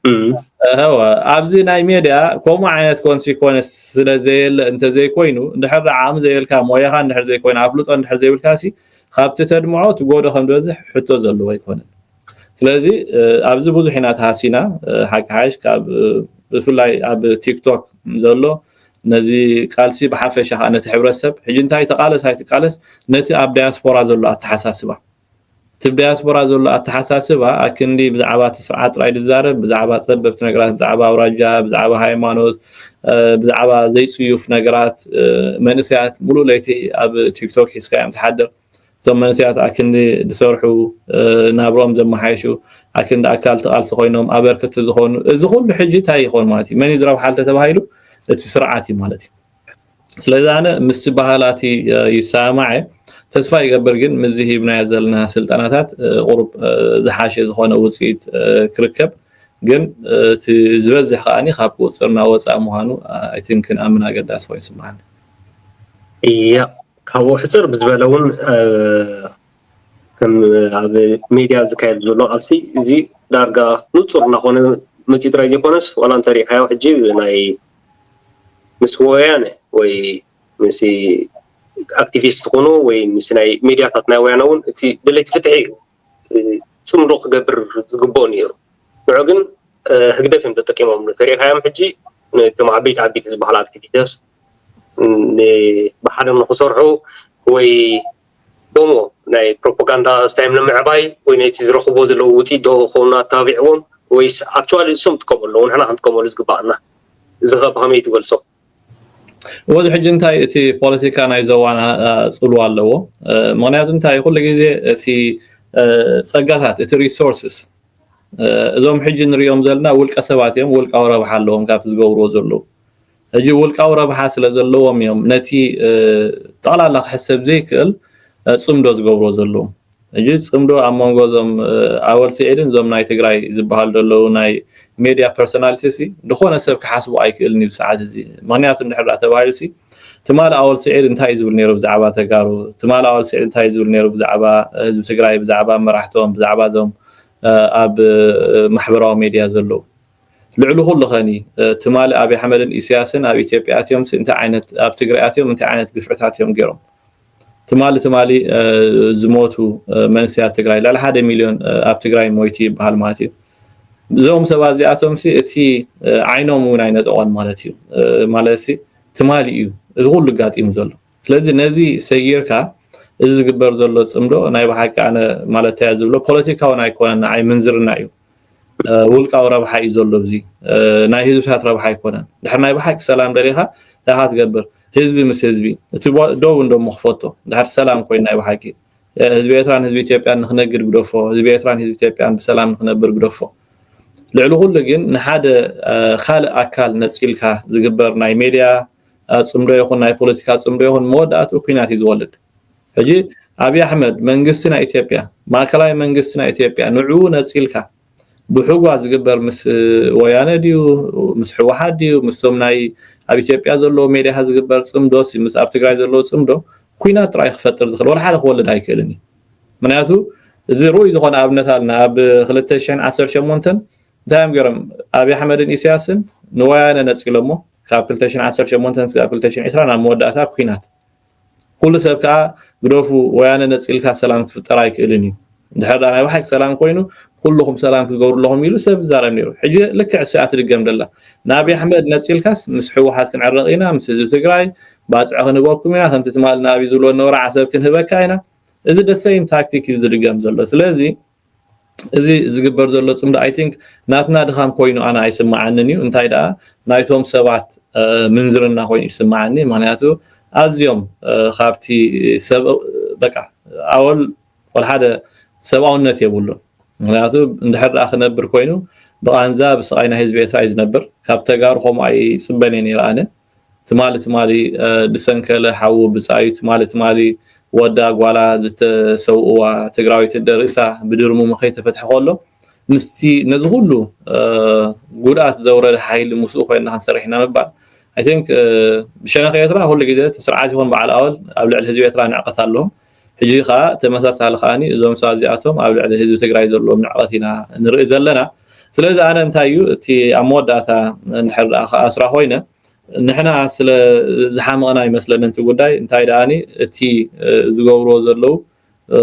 እዩ ኣብዚ ናይ ሜድያ ከምኡ ዓይነት ኮንሲኮንስ ስለ ዘየለ እንተዘይኮይኑ እንድሕር ዓቕሚ ዘየልካ ሞያኻ እንድሕር ዘይኮይኑ ኣፍልጦ እንድሕር ዘይብልካሲ ካብቲ ተድምዖ ትጎዶ ከም ዝበዝሕ ሕቶ ዘለዎ ኣይኮነን ስለዚ ኣብዚ ብዙሕ ኢና ተሃሲና ሓቂ ሓይሽ ካብ ብፍላይ ኣብ ቲክቶክ ዘሎ ነዚ ቃልሲ ብሓፈሻ ከዓ ነቲ ሕብረተሰብ ሕጂ እንታይ ተቃለስ ኣይትቃለስ ነቲ ኣብ ዳያስፖራ ዘሎ ኣተሓሳስባ እቲ ዳያስፖራ ዘሎ ኣተሓሳስባ ኣክንዲ ብዛዕባ እቲ ስርዓት ጥራይ ዝዛረብ ብዛዕባ ጸበብቲ ነገራት ብዛዕባ ኣውራጃ ብዛዕባ ሃይማኖት ብዛዕባ ዘይጽዩፍ ነገራት መንእሰያት ሙሉእ ለይቲ ኣብ ቲክቶክ ሒዝካዮም ትሓድር እቶም መንእሰያት ኣክንዲ ዝሰርሑ ናብርኦም ዘመሓየሹ ኣክንዲ ኣካል እቲ ቃልሲ ኮይኖም ኣበርክቲ ዝኾኑ እዚ ኩሉ ሕጂ እንታይ ይኾን ማለት እዩ መን እዩ ዝረብሓ እንተተባሂሉ እቲ ስርዓት እዩ ማለት እዩ ስለዚ ኣነ ምስቲ ባህላቲ ይሰማማዕ እየ ተስፋ ይገብር ግን ምዚ ሂብናዮ ዘለና ስልጠናታት ቁሩብ ዝሓሸ ዝኾነ ውፅኢት ክርከብ ግን እቲ ዝበዝሕ ከዓኒ ካብ ቁፅርና ወፃእ ምዃኑ ኣይቲንክ ክንኣምን ኣገዳሲ ኮይኑ ይስምዓኒ እያ ካብኡ ሕጽር ብዝበለ እውን ከም ኣብ ሜድያ ዝካየድ ዘሎ ቃልሲ እዚ ዳርጋ ንጹር እናኾነ መጺኡ ጥራይ ዘይኮነስ ዋላ እንተሪእካዮ ሕጂ ናይ ምስ ወያነ ወይ ምስ ኣክቲቪስት ትኹኑ ወይ ምስ ናይ ሜድያታት ናይ ወያነ እውን እቲ ደለይቲ ፍትሒ ፅምዶ ክገብር ዝግብኦ ነይሩ ንዑ ግን ህግደፍ እዮም ተጠቂሞም ተሪእካዮም ሕጂ ነቶም ዓበይቲ ዓበይቲ ዝበሃሉ ኣክቲቪስት ብሓደ ንክሰርሑ ወይ ዶሞ ናይ ፕሮፓጋንዳ ስታዮም ንምዕባይ ወይ ነቲ ዝረኽብዎ ዘለዉ ውፅኢት ዶ ከውን ኣተባቢዕዎም ወይስ ኣክቹዋሊ እሶም ጥቀሙ ኣለዉ ንሕና ክንጥቀመሉ ዝግባኣና እዚ ከ ብኸመይ ትገልፆ? ወዚ ሕጂ እንታይ እቲ ፖለቲካ ናይ ዘዋን ጽልዋ ኣለዎ ምክንያቱ እንታይ ኩሉ ግዜ እቲ ጸጋታት እቲ ሪሶርስስ እዞም ሕጂ ንሪኦም ዘለና ውልቀ ሰባት እዮም ውልቃዊ ረብሓ ኣለዎም ካብቲ ዝገብርዎ ዘለዉ ሕጂ ውልቃዊ ረብሓ ስለ ዘለዎም እዮም ነቲ ጠቕላላ ክሕሰብ ዘይክእል ጽምዶ ዝገብርዎ ዘለዉ። ሕጂ ጽምዶ ኣብ መንጎ እዞም ኣወል ስዒድን እዞም ናይ ትግራይ ዝበሃሉ ዘለዉ ናይ ሜድያ ፐርሰናሊቲስሲ ዝኾነ ሰብ ክሓስቦ ኣይክእልን እዩ ብሰዓት እዚ። ምኽንያቱ እንድሕር ደኣ ተባሂሉሲ ትማል ኣወል ስዒድ እንታይ እዩ ዝብል ነይሩ ብዛዕባ ተጋሩ፣ ትማል ኣወል ስዒድ እንታይ እዩ ዝብል ነይሩ ብዛዕባ ህዝቢ ትግራይ፣ ብዛዕባ መራሕቶም፣ ብዛዕባ እዞም ኣብ ማሕበራዊ ሜድያ ዘለዉ። ልዕሊ ኩሉ ከኒ ትማሊ ኣብይ ኣሕመድን ኢሰያስን ኣብ ኢትዮጵያ ኣትዮምሲ እንታይ ዓይነት ኣብ ትግራይ ኣትዮም እንታይ ዓይነት ግፍዕታት እዮም ገይሮም ትማሊ ትማሊ ዝሞቱ መንስያት ትግራይ ልዕሊ ሓደ ሚልዮን ኣብ ትግራይ ሞይቱ ይበሃል ማለት እዩ እዞም ሰባት እዚኣቶምሲ እቲ ዓይኖም እውን ኣይነጠቖን ማለት እዩ ማለት ትማሊ እዩ እዚ ኩሉ ጋጢሙ ዘሎ ስለዚ ነዚ ሰጊርካ እዚ ዝግበር ዘሎ ጽምዶ ናይ ብሓቂ ኣነ ማለተይ እያ ዝብሎ ፖለቲካውን ኣይኮነን ንዓይ ምንዝርና እዩ ውልቃዊ ረብሓ እዩ ዘሎ እዚ ናይ ህዝብታት ረብሓ ኣይኮነን ድሕር ናይ ብሓቂ ሰላም ደሊኻ ዳኻ ትገብር ህዝቢ ምስ ህዝቢ እቲ ደው እንደሞ ክፈቶ ድሕር ሰላም ኮይኑ ናይ ብሓቂ ህዝቢ ኤርትራን ህዝቢ ኢትዮጵያን ንክነግድ ግደፎ ህዝቢ ኤርትራን ህዝቢ ኢትዮጵያን ብሰላም ንክነብር ግደፎ ልዕሊ ኩሉ ግን ንሓደ ካልእ ኣካል ነጺልካ ዝግበር ናይ ሜድያ ጽምዶ ይኹን ናይ ፖለቲካ ጽምዶ ይኹን መወዳእትኡ ኩናት እዩ ዝወልድ ሕጂ ኣብይ ኣሕመድ መንግስቲ ናይ ኢትዮጵያ ማእከላይ መንግስቲ ናይ ኢትዮጵያ ንዕኡ ነጺልካ ብሕጓ ዝግበር ምስ ወያነ ድዩ ምስ ሕወሓት ድዩ ምስቶም ናይ ኣብ ኢትዮጵያ ዘለዎ ሜድያ ዝግበር ጽምዶ ምስ ኣብ ትግራይ ዘለዎ ጽምዶ ኩናት ጥራይ ክፈጥር ዝኽእል ወላ ሓደ ክወልድ ኣይክእልን እዩ ምክንያቱ እዚ ርኡይ ዝኾነ ኣብነት ኣለና ኣብ 2018 እንታይ እዮም ገይሮም ኣብዪ ኣሕመድን ኢሳያስን ንወያነ ነፂሎሞ ካብ 218 ስጋብ 220 ናብ መወዳእታ ኩናት ኩሉ ሰብ ከዓ ግደፉ ወያነ ነፂልካ ሰላም ክፍጠር ኣይክእልን እዩ እንድሕር ዳ ናይ ባሓቂ ሰላም ኮይኑ ኩልኹም ሰላም ክገብሩ ኣለኹም ኢሉ ሰብ ዛረብ ነይሩ ሕጂ ልክዕ እሰ ኣትድገም ደላ ንኣብዪ ኣሕመድ ነፂልካስ ምስ ሕወሓት ክንዕረቕ ኢና ምስ ህዝቢ ትግራይ ባፅዕ ክንህበኩም ኢና ከምቲ ትማል ንኣብዪ ዝብሎ ነበረ ዓሰብ ክንህበካ ኢና እዚ ደሰይም ታክቲክ እዩ ዝድገም ዘሎ ስለዚ እዚ ዝግበር ዘሎ ጽምዶ ኣይ ቲንክ ናትና ድኻም ኮይኑ ኣነ ኣይስምዓንን እዩ እንታይ ደኣ ናይቶም ሰባት ምንዝርና ኮይኑ እዩ ዝስምዓኒ ምክንያቱ ኣዝዮም ካብቲ ሰብ በቃ ኣወል ወልሓደ ሰብኣውነት የብሉን ምክንያቱ እንድሕር ደኣ ክነብር ኮይኑ ብቓንዛ ብስቓይ ናይ ህዝቢ ኤርትራ እዩ ዝነብር ካብ ተጋሩ ከምኡ ኣይጽበን እየ ነይረ ኣነ ትማሊ ትማሊ ድሰንከለ ሓዉ ብጻዩ ትማሊ ትማሊ ወዳ ጓላ ዝተሰዉእዋ ትግራወይቲ ደሪሳ ብድርሙሙ ከይተፈትሐ ከሎ ምስቲ ነዚ ኩሉ ጉድኣት ዘዉረደ ሓይሊ ምስኡ ኮይንና ክንሰርሕ ኢና ምባል i think ብሸነኽ ኤርትራ ኩሉ ግዜ እቲ ስርዓት ይኹን በዓል ኣወል ኣብ ልዕሊ ህዝቢ ኤርትራ ንዕቀት ኣለዎም ሕጂ ከኣ ተመሳሳሊ ከኣ እዞም ሰባት እዚኣቶም ኣብ ልዕሊ ህዝቢ ትግራይ ዘለዎም ንዕቀት ኢና ንርኢ ዘለና ስለዚ ኣነ እንታይ እዩ እቲ ኣብ መወዳእታ እንድሕር ደኣ ክኣስራ ኮይነ ንሕና ስለ ዝሓመቕና ይመስለኒ እቲ ጉዳይ እንታይ ደኣ እቲ ዝገብርዎ ዘለዉ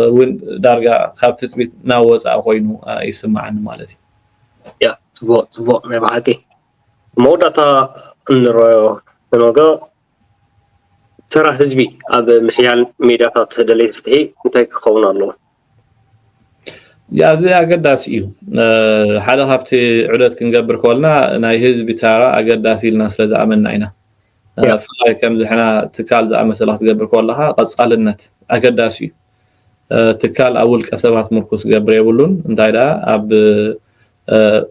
እውን ዳርጋ ካብ ትፅቢት ናብ ወፃኢ ኮይኑ ይስማዓኒ ማለት እዩ ያ ፅቡቅ ፅቡቅ ናይ በሓቂ መወዳእታ እንረዮ ንነገ ተራ ህዝቢ ኣብ ምሕያል ሜዳታት ደለይቲ ፍትሒ እንታይ ክኸውን ኣለዎ? ኣዝዩ ኣገዳሲ እዩ። ሓደ ካብቲ ዑደት ክንገብር ኮልና ናይ ህዝቢ ተራ ኣገዳሲ ኢልና ስለ ዝኣመንና ኢና። ብፍላይ ከምዚ ሕና ትካል ዝኣመሰላ ክትገብር ኮለኻ ቀጻልነት ኣገዳሲ እዩ። ትካል ኣብ ውልቀ ሰባት ምርኩስ ክገብር የብሉን። እንታይ ደኣ ኣብ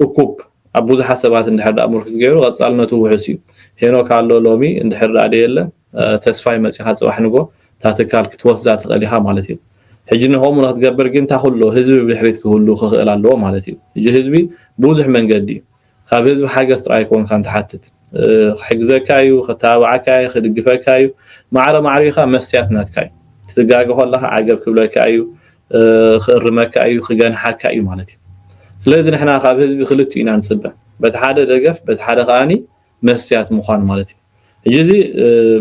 እኩብ ኣብ ብዙሓት ሰባት እንድሕር ድኣ ምርኩስ ገይሩ ቐጻልነቱ ውሑስ እዩ። ሄኖክ ኣሎ ሎሚ እንድሕር ድኣ ደየለ ተስፋይ መጺኻ ጽባሕ ንግሆ እታ ትካል ክትወስዛ ትኽእል ኢኻ ማለት እዩ። ሕጂ ንኸምኡ ንኽትገብር ግን ታኹሎ ህዝቢ ብድሕሪት ክህሉ ክኽእል ኣለዎ ማለት እዩ። ሕጂ ህዝቢ ብብዙሕ መንገዲ እዩ። ካብ ህዝቢ ሓገዝ ጥራይ ኣይኮንካን ትሓትት። ክሕግዘካ እዩ፣ ከተባብዓካ እዩ፣ ክድግፈካ እዩ። ማዕረ ማዕሪኻ መስትያት ናትካ እዩ። ክትጋገ ከለኻ ዓገብ ክብለካ እዩ፣ ክእርመካ እዩ ክገንሓካ እዩ ማለት እዩ ስለዚ ንሕና ካብ ህዝቢ ክልቲኡ ኢና ንፅበ በቲ ሓደ ደገፍ በቲ ሓደ ከዓኒ መስትያት ምዃን ማለት እዩ ሕጂ እዚ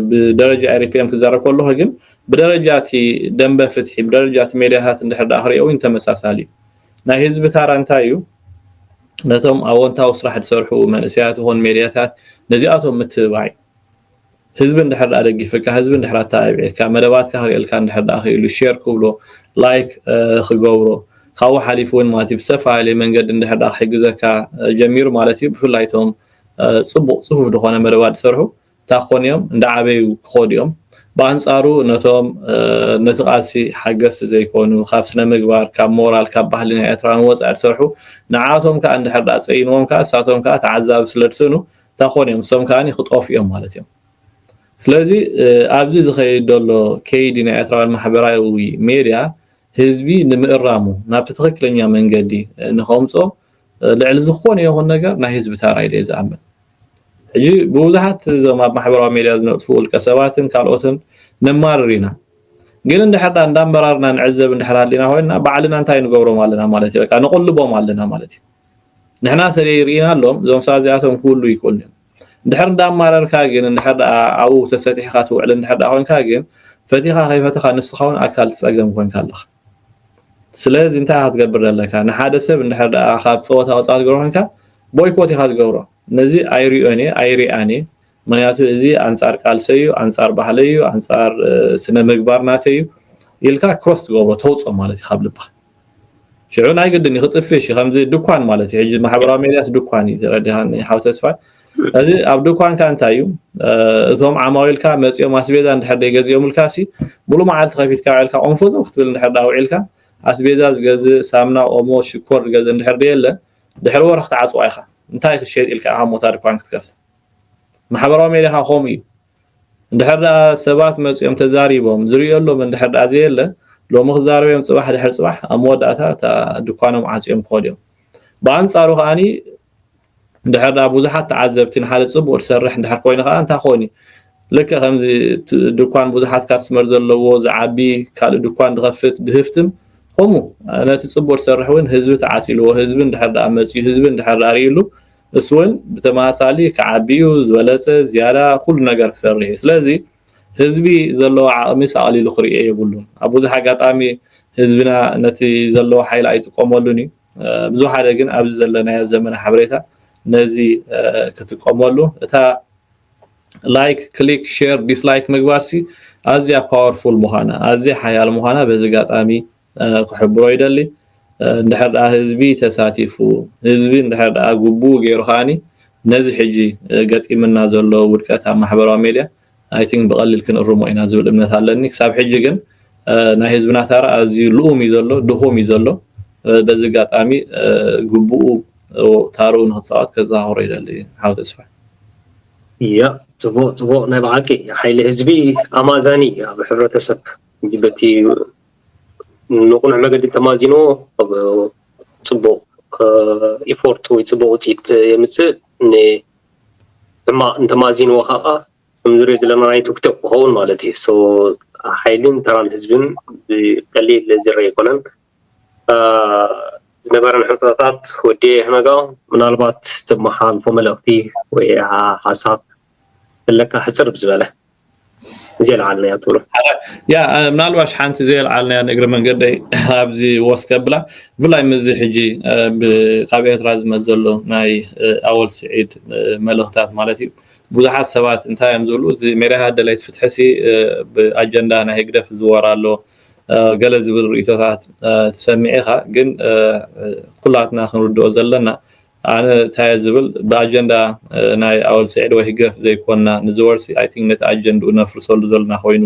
ብደረጃ ኤሪፒኤም ክዛረብ ከለኹ ግን ብደረጃ እቲ ደንበ ፍትሒ ብደረጃ እቲ ሜድያታት እንድሕር ዳኣ ክሪኦ እውን ተመሳሳሊ እዩ ናይ ህዝቢ ታራ እንታይ እዩ ነቶም ኣወንታዊ ስራሕ ዝሰርሑ መንእሰያት ይኹን ሜድያታት ነዚኣቶም ምትብባዕ እዩ ህዝቢ እንድሕር ድኣ ደጊፍካ ህዝቢ እንድሕር ኣተባቢዕካ መደባትካ ክርእየልካ እንድሕር ድኣ ክኢሉ ሼር ክብሎ ላይክ ክገብሮ ካብኡ ሓሊፉ እውን ማለት እዩ ብዝተፈላለየ መንገዲ እንድሕር ድኣ ክሕግዘካ ጀሚሩ ማለት እዩ ብፍላይ እቶም ጽቡቕ ጽፉፍ ዝኾነ መደባት ዝሰርሑ እንታይ ክኾኑ እዮም እንዳዓበዩ ክኾዱ እዮም ብኣንጻሩ ነቶም ነቲ ቃልሲ ሓገዝቲ ዘይኮኑ ካብ ስነ ምግባር ካብ ሞራል ካብ ባህሊ ናይ ኤርትራ ንወጻኢ ዝሰርሑ ንዓቶም ከዓ እንድሕር ድኣ ጸይንዎም ከዓ እሳቶም ከዓ ተዓዛቢ ስለ ድስእኑ እንታ ኮን እዮም ንሶም ከኣ ክጠፍኡ እዮም ማለት እዮም ስለዚ ኣብዚ ዝኸይድ ዘሎ ከይዲ ናይ ኤርትራውያን ማሕበራዊ ሜድያ ህዝቢ ንምእራሙ ናብቲ ትኽክለኛ መንገዲ ንኸምጾ ልዕሊ ዝኾነ ይኹን ነገር ናይ ህዝቢ ታራ ኢለ ዝኣምን ሕጂ ብብዙሓት እዞም ኣብ ማሕበራዊ ሜድያ ዝነጥፉ ውልቀ ሰባትን ካልኦትን ነማርር ኢና ግን እንድሕር ዳ እንዳመራርና ንዕዘብ እንድሕር ሃሊና ኮይንና ባዕልና እንታይ ንገብሮም ኣለና ማለት እዩ በቃ ንቕልቦም ኣለና ማለት እዩ ንሕና ተለይ ርኢናሎም እዞም ሰባት እዚኣቶም ክውሉ ይክእሉ እዮም እንድሕር እንዳማረርካ ግን እንድሕር ደኣ ኣብኡ ተሰጢሕካ ትውዕል እንድሕር ደኣ ኮንካ ግን ፈቲኻ ከይፈተኻ ንስኻ እውን ኣካል ፀገም ኮንካ ኣለኻ ስለዚ እንታይ ኢኻ ትገብር ዘለካ ንሓደ ሰብ እንድሕር ደኣ ካብ ፀወታ ወፃ ትገብሮ ኮንካ ቦይኮት ኢኻ ትገብሮ ነዚ ኣይሪኦን እየ ኣይሪኣን እየ ምክንያቱ እዚ ኣንጻር ቃልሰይ'ዩ፣ ኣንጻር ባህለይ'ዩ፣ ኣንጻር ስነ ምግባር ናተይ'ዩ ኢልካ ክሮስ ትገብሮ ተውጾ ማለት እዩ ካብ ልብኻ። ሽዑ ናይ ግድን እዩ ክጥፍሽ እዩ ከምዚ ድኳን ማለት እዩ። ሕጂ ማሕበራዊ ሜድያስ ድኳን እዩ ተረዲኻኒ ሓው ተስፋይ። እዚ ኣብ ድኳንካ እንታይ እዩ እቶም ዓማዊልካ መጺኦም ኣስቤዛ እንድሕር ዘይገዚኦምልካሲ ሙሉእ መዓልቲ ከፊትካ ውዒልካ ቆንፎዞም ክትብል እንድሕር ደኣ ውዒልካ ኣስቤዛ ዝገዝእ ሳምና ኦሞ ሽኮር ዝገዝእ እንድሕር ደየለ ድሕሪ ወርሒ ክትዓጽዋ ኢኻ እንታይ ክሸጥ ኢልካ ኢኻ እሞ እታ ድኳን ክትከፍታ ማሕበራዊ ሜድያ ከኣ ከምኡ እዩ እንድሕር ደኣ ሰባት መጺኦም ተዛሪቦም ዝርእየሎም እንድሕር ደኣ ዘየለ ሎሚ ክዛረብ እዮም ጽባሕ ድሕሪ ጽባሕ ኣብ መወዳእታ እታ ድኳኖም ዓጽዮም ክኸዱ እዮም ብኣንጻሩ ከኣኒ እንድሕር ደኣ ብዙሓት ተዓዘብቲ ንሓደ ጽቡቕ ትሰርሕ እንድሕር ኮይኑ ከኣ እንታይ ክኸውን እዩ ልክዕ ከምዚ ድኳን ብዙሓት ካስተመር ዘለዎ ዝዓቢ ካልእ ድኳን ዝኸፍት ድህፍትም ከምኡ ነቲ ጽቡቕ ትሰርሕ እውን ህዝቢ ተዓጺልዎ ህዝቢ እንድሕር ደኣ መጺኡ ህዝቢ እንድሕር ደኣ ርእይሉ እሱ ውን ብተመሳሳሊ ክዓቢ እዩ ዝበለፀ ዝያዳ ኩሉ ነገር ክሰርሕ እዩ ስለዚ ህዝቢ ዘለዎ ዓቅሚስ ኣቅሊሉ ክሪኦ የብሉን ኣብ ብዙሕ ኣጋጣሚ ህዝብና ነቲ ዘለዎ ሓይሊ ኣይጥቀመሉን እዩ ብዝወሓደ ግን ኣብዚ ዘለናዮ ዘመነ ሓበሬታ ነዚ ክጥቀመሉ እታ ላይክ ክሊክ ሼር ዲስላይክ ምግባርሲ ኣዝያ ፓወርፉል ምዃና ኣዝያ ሓያል ምዃና በዚ ኣጋጣሚ ክሕብሮ ይደሊ እንድሕር ድኣ ህዝቢ ተሳቲፉ ህዝቢ እንድሕር ድኣ ግቡኡ ጌሩ ከኣኒ ነዚ ሕጂ ገጢምና ዘሎ ውድቀት ኣብ ማሕበራዊ ሜድያ ኣይ ቲንክ ብቐሊል ክንእርሞ ኢና ዝብል እምነት ኣለኒ ክሳብ ሕጂ ግን ናይ ህዝብና ታራ ኣዝዩ ልኡም እዩ ዘሎ ድኹም እዩ ዘሎ በዚ ኣጋጣሚ ግቡኡ ታርኡ ንክፃወት ከዘኻኽሮ ይደሊ ሓው ተስፋ ያ ፅቡቅ ፅቡቅ ናይ ብሓቂ ሓይሊ ህዝቢ ኣማዛኒ ኣብ ሕብረተሰብ በቲ ንቕኑዕ መገዲ ተማዚኑ ፅቡቕ ኢፎርት ወይ ፅቡቕ ውፅኢት የምፅእ ሕማቕ እንተማዚንዎ ከዓ ከምንሪኦ ዘለና ናይ ቲክቶክ ክኸውን ማለት እዩ ሶ ሓይልን ተራን ህዝብን ብቀሊል ዝረ ኣይኮነን ዝነበረን ሕንፃታት ወዲ ይህነጋ ምናልባት ተመሓላልፎ መልእኽቲ ወይ ሓሳብ ክብለካ ሕጽር ብዝበለ ዘየልዓልናዮ ትብሎ ያ ምናልባሽ ሓንቲ ዘየልዓልናያ ንእግሪ መንገደይ ኣብዚ ወስ ከብላ ብፍላይ ምስዚ ሕጂ ካብ ኤርትራ ዝመጽ ዘሎ ናይ ኣወል ስዒድ መልእኽታት ማለት እዩ ብዙሓት ሰባት እንታይ እዮም ዝብሉ እዚ ሜሪሃ ደለይት ፍትሒ ሲ ብኣጀንዳ ናይ ህግደፍ ዝወር ኣሎ ገለ ዝብል ርእቶታት ትሰምዕ ኢኻ ግን ኩላትና ክንርድኦ ዘለና ኣነ ታየ ዝብል ብኣጀንዳ ናይ ኣወል ስዒድ ወይ ህግደፍ ዘይኮና ንዝወርሲ ኣይ ቲንክ ነቲ ኣጀንድኡ ነፍርሰሉ ዘሎና ኮይኑ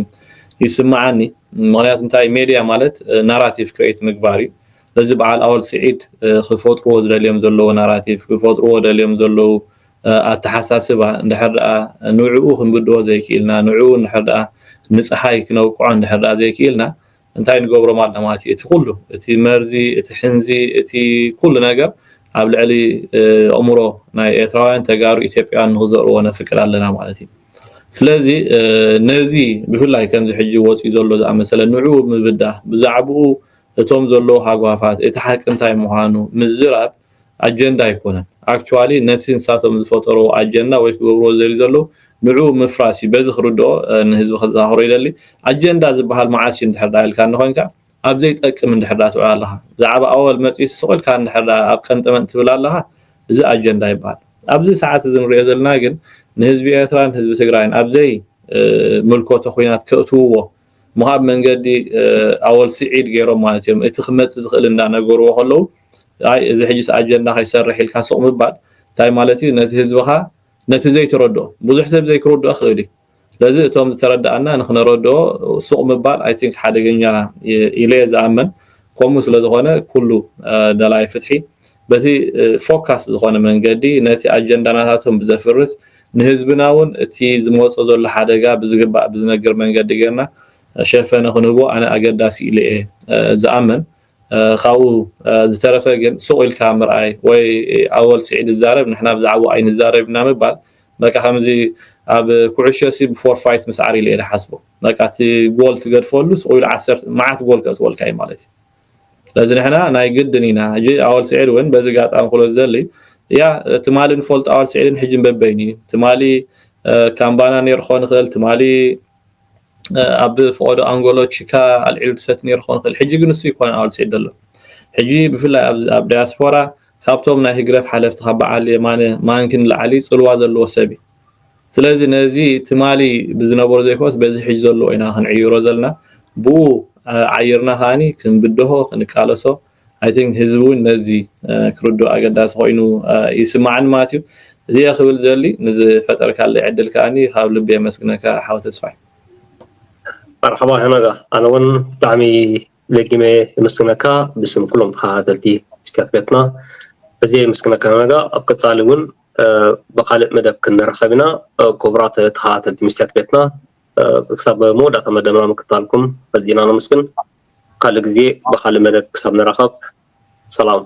ይስመዓኒ ምክንያቱ እንታይ ሜድያ ማለት ናራቲቭ ክሬት ምግባር እዩ ስለዚ በዓል ኣወል ስዒድ ክፈጥርዎ ዝደልዮም ዘለዉ ናራቲቭ ክፈጥርዎ ደልዮም ዘለዉ ኣተሓሳስባ እንድሕር ደኣ ንዕኡ ክንብድሆ ዘይክኢልና ንዕኡ እንድሕር ደኣ ንጸሓይ ክነውቅዖ እንድሕር ደኣ ዘይክኢልና እንታይ ንገብሮም ኣና ማለት እዩ እቲ ኩሉ እቲ መርዚ እቲ ሕንዚ እቲ ኩሉ ነገር ኣብ ልዕሊ ኣእምሮ ናይ ኤርትራውያን ተጋሩ ኢትዮጵያውያን ንክዘርዎ ነፍቅድ ኣለና ማለት እዩ ስለዚ ነዚ ብፍላይ ከምዚ ሕጂ ወፅዩ ዘሎ ዝኣመሰለ ንዑ ምብዳህ ብዛዕብኡ እቶም ዘለዉ ሃጓፋት እቲ ሓቂ እንታይ ምዃኑ ምዝራብ ኣጀንዳ ኣይኮነን ኣክቹዋሊ ነቲ ንሳቶም ዝፈጠርዎ ኣጀንዳ ወይ ክገብርዎ ዝደልዩ ዘለዉ ንዕኡ ምፍራስ እዩ በዚ ክርድኦ ንህዝቢ ከዘካክሮ ይደሊ ኣጀንዳ ዝብሃል መዓስ እዩ እንድሕር ደኣ ኢልካኒ ኮይንካ ኣብ ዘይጠቅም እንድሕር ደኣ ትውዕል ኣለኻ ብዛዕባ ኣወል መጺኡ ስቅ ኢልካ እንድሕር ደኣ ኣብ ቀንጠመንጥ ትብል ኣለኻ እዚ ኣጀንዳ ይብሃል ኣብዚ ሰዓት እዚ ንሪኦ ዘለና ግን ንህዝቢ ኤርትራን ህዝቢ ትግራይን ኣብ ዘይ ምልኮቶ ኩናት ከእትውዎ ምሃብ መንገዲ ኣወል ሲዒድ ገይሮም ማለት እዮም እቲ ክመጽእ ዝኽእል እንዳ ነገርዎ ከለዉ ኣይ እዚ ሕጂስ ኣጀንዳ ከይሰርሕ ኢልካ ሱቕ ምባል እንታይ ማለት እዩ ነቲ ህዝብኻ ነቲ ዘይትረድኦ ብዙሕ ሰብ ዘይክርድኦ ክኽእል እዩ ስለዚ እቶም ዝተረዳኣና ንክነረድኦ ሱቕ ምባል ኣይ ቲንክ ሓደገኛ ኢለ እየ ዝኣምን ከምኡ ስለ ዝኾነ ኩሉ ደላይ ፍትሒ በቲ ፎካስ ዝኾነ መንገዲ ነቲ ኣጀንዳናታቶም ብዘፍርስ ንህዝብና ውን እቲ ዝመጾ ዘሎ ሓደጋ ብዝግባእ ብዝነግር መንገዲ ጌርና ሸፈነ ክንህቦ ኣነ ኣገዳሲ ኢለ እየ ዝኣምን ካብኡ ዝተረፈ ግን ሱቕ ኢልካ ምርኣይ ወይ ኣወል ስዒድ ይዛረብ ንሕና ብዛዕብኡ ኣይንዛረብ ኢና ምባል በቃ ከምዚ ኣብ ኩዕሾሲ ብፎርፋይት ምስዓር ኢለ እየ ዝሓስቦ በቃ እቲ ጎል ትገድፈሉ ሱቕ ኢሉ መዓት ጎል ከእትወልካ እዩ ማለት እዩ ስለዚ ንሕና ናይ ግድን ኢና ሕጂ ኣወል ስዒድ ውን በዚ ጋጣሚ ክብሎ ዝደሊ እያ ትማሊ ንፈልጦ ኣወል ስዒድን ሕጂን በበይኑ እዩ ትማሊ ካምባና ነይሩ ክኾን ይኽእል ትማሊ ኣብ ፍቆዶ ኣንጎሎ ቺካ ኣልዒሉ ድሰቲ ነይሩ ክኾን ይኽእል ሕጂ ግን ንሱ ይኮነ ኣወል ስዒድ ደሎ ሕጂ ብፍላይ ኣብ ዳያስፖራ ካብቶም ናይ ህግደፍ ሓለፍቲ ካብ በዓል የማነ ማንኪ ንላዕሊ ጽልዋ ዘለዎ ሰብ እዩ ስለዚ ነዚ ትማሊ ብዝነበሮ ዘይኮነስ በዚ ሕጂ ዘለዎ ኢና ክንዕይሮ ዘለና ብኡ ዓይርና ከኣ ክንብድሆ ክንቃለሶ i think ህዝቢ ውን ነዚ ክርድኦ ኣገዳሲ ኮይኑ ይስማዓኒ ማለት እዩ እዚ እየ ክብል ዝደሊ ንዝፈጠርካለይ ዕድል ከኣ ካብ ልቢ የመስግነካ ሓው ተስፋይ። መርሓባ ሄኖጋ ኣነ ውን ብጣዕሚ ደጊመ የመስግነካ ብስም ኩሎም ተኸታተልቲ መስትያት ቤትና ኣዝየ የመስግነካ ሄኖጋ ኣብ ቀጻሊ ውን ብካልእ መደብ ክንራኸብ ኢና ኩቡራት ተኸታተልቲ መስትያት ቤትና ክሳብ መወዳእታ መደብና ምክታልኩም ኣዚና ነመስግን ካልእ ግዜ ብካልእ መደብ ክሳብ ንራኸብ ሰላም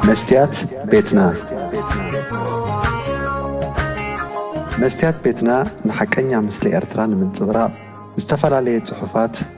መስትያት ቤትና መስትያት ቤትና ንሓቀኛ ምስሊ ኤርትራ ንምንጽብራቕ ዝተፈላለየ ጽሑፋት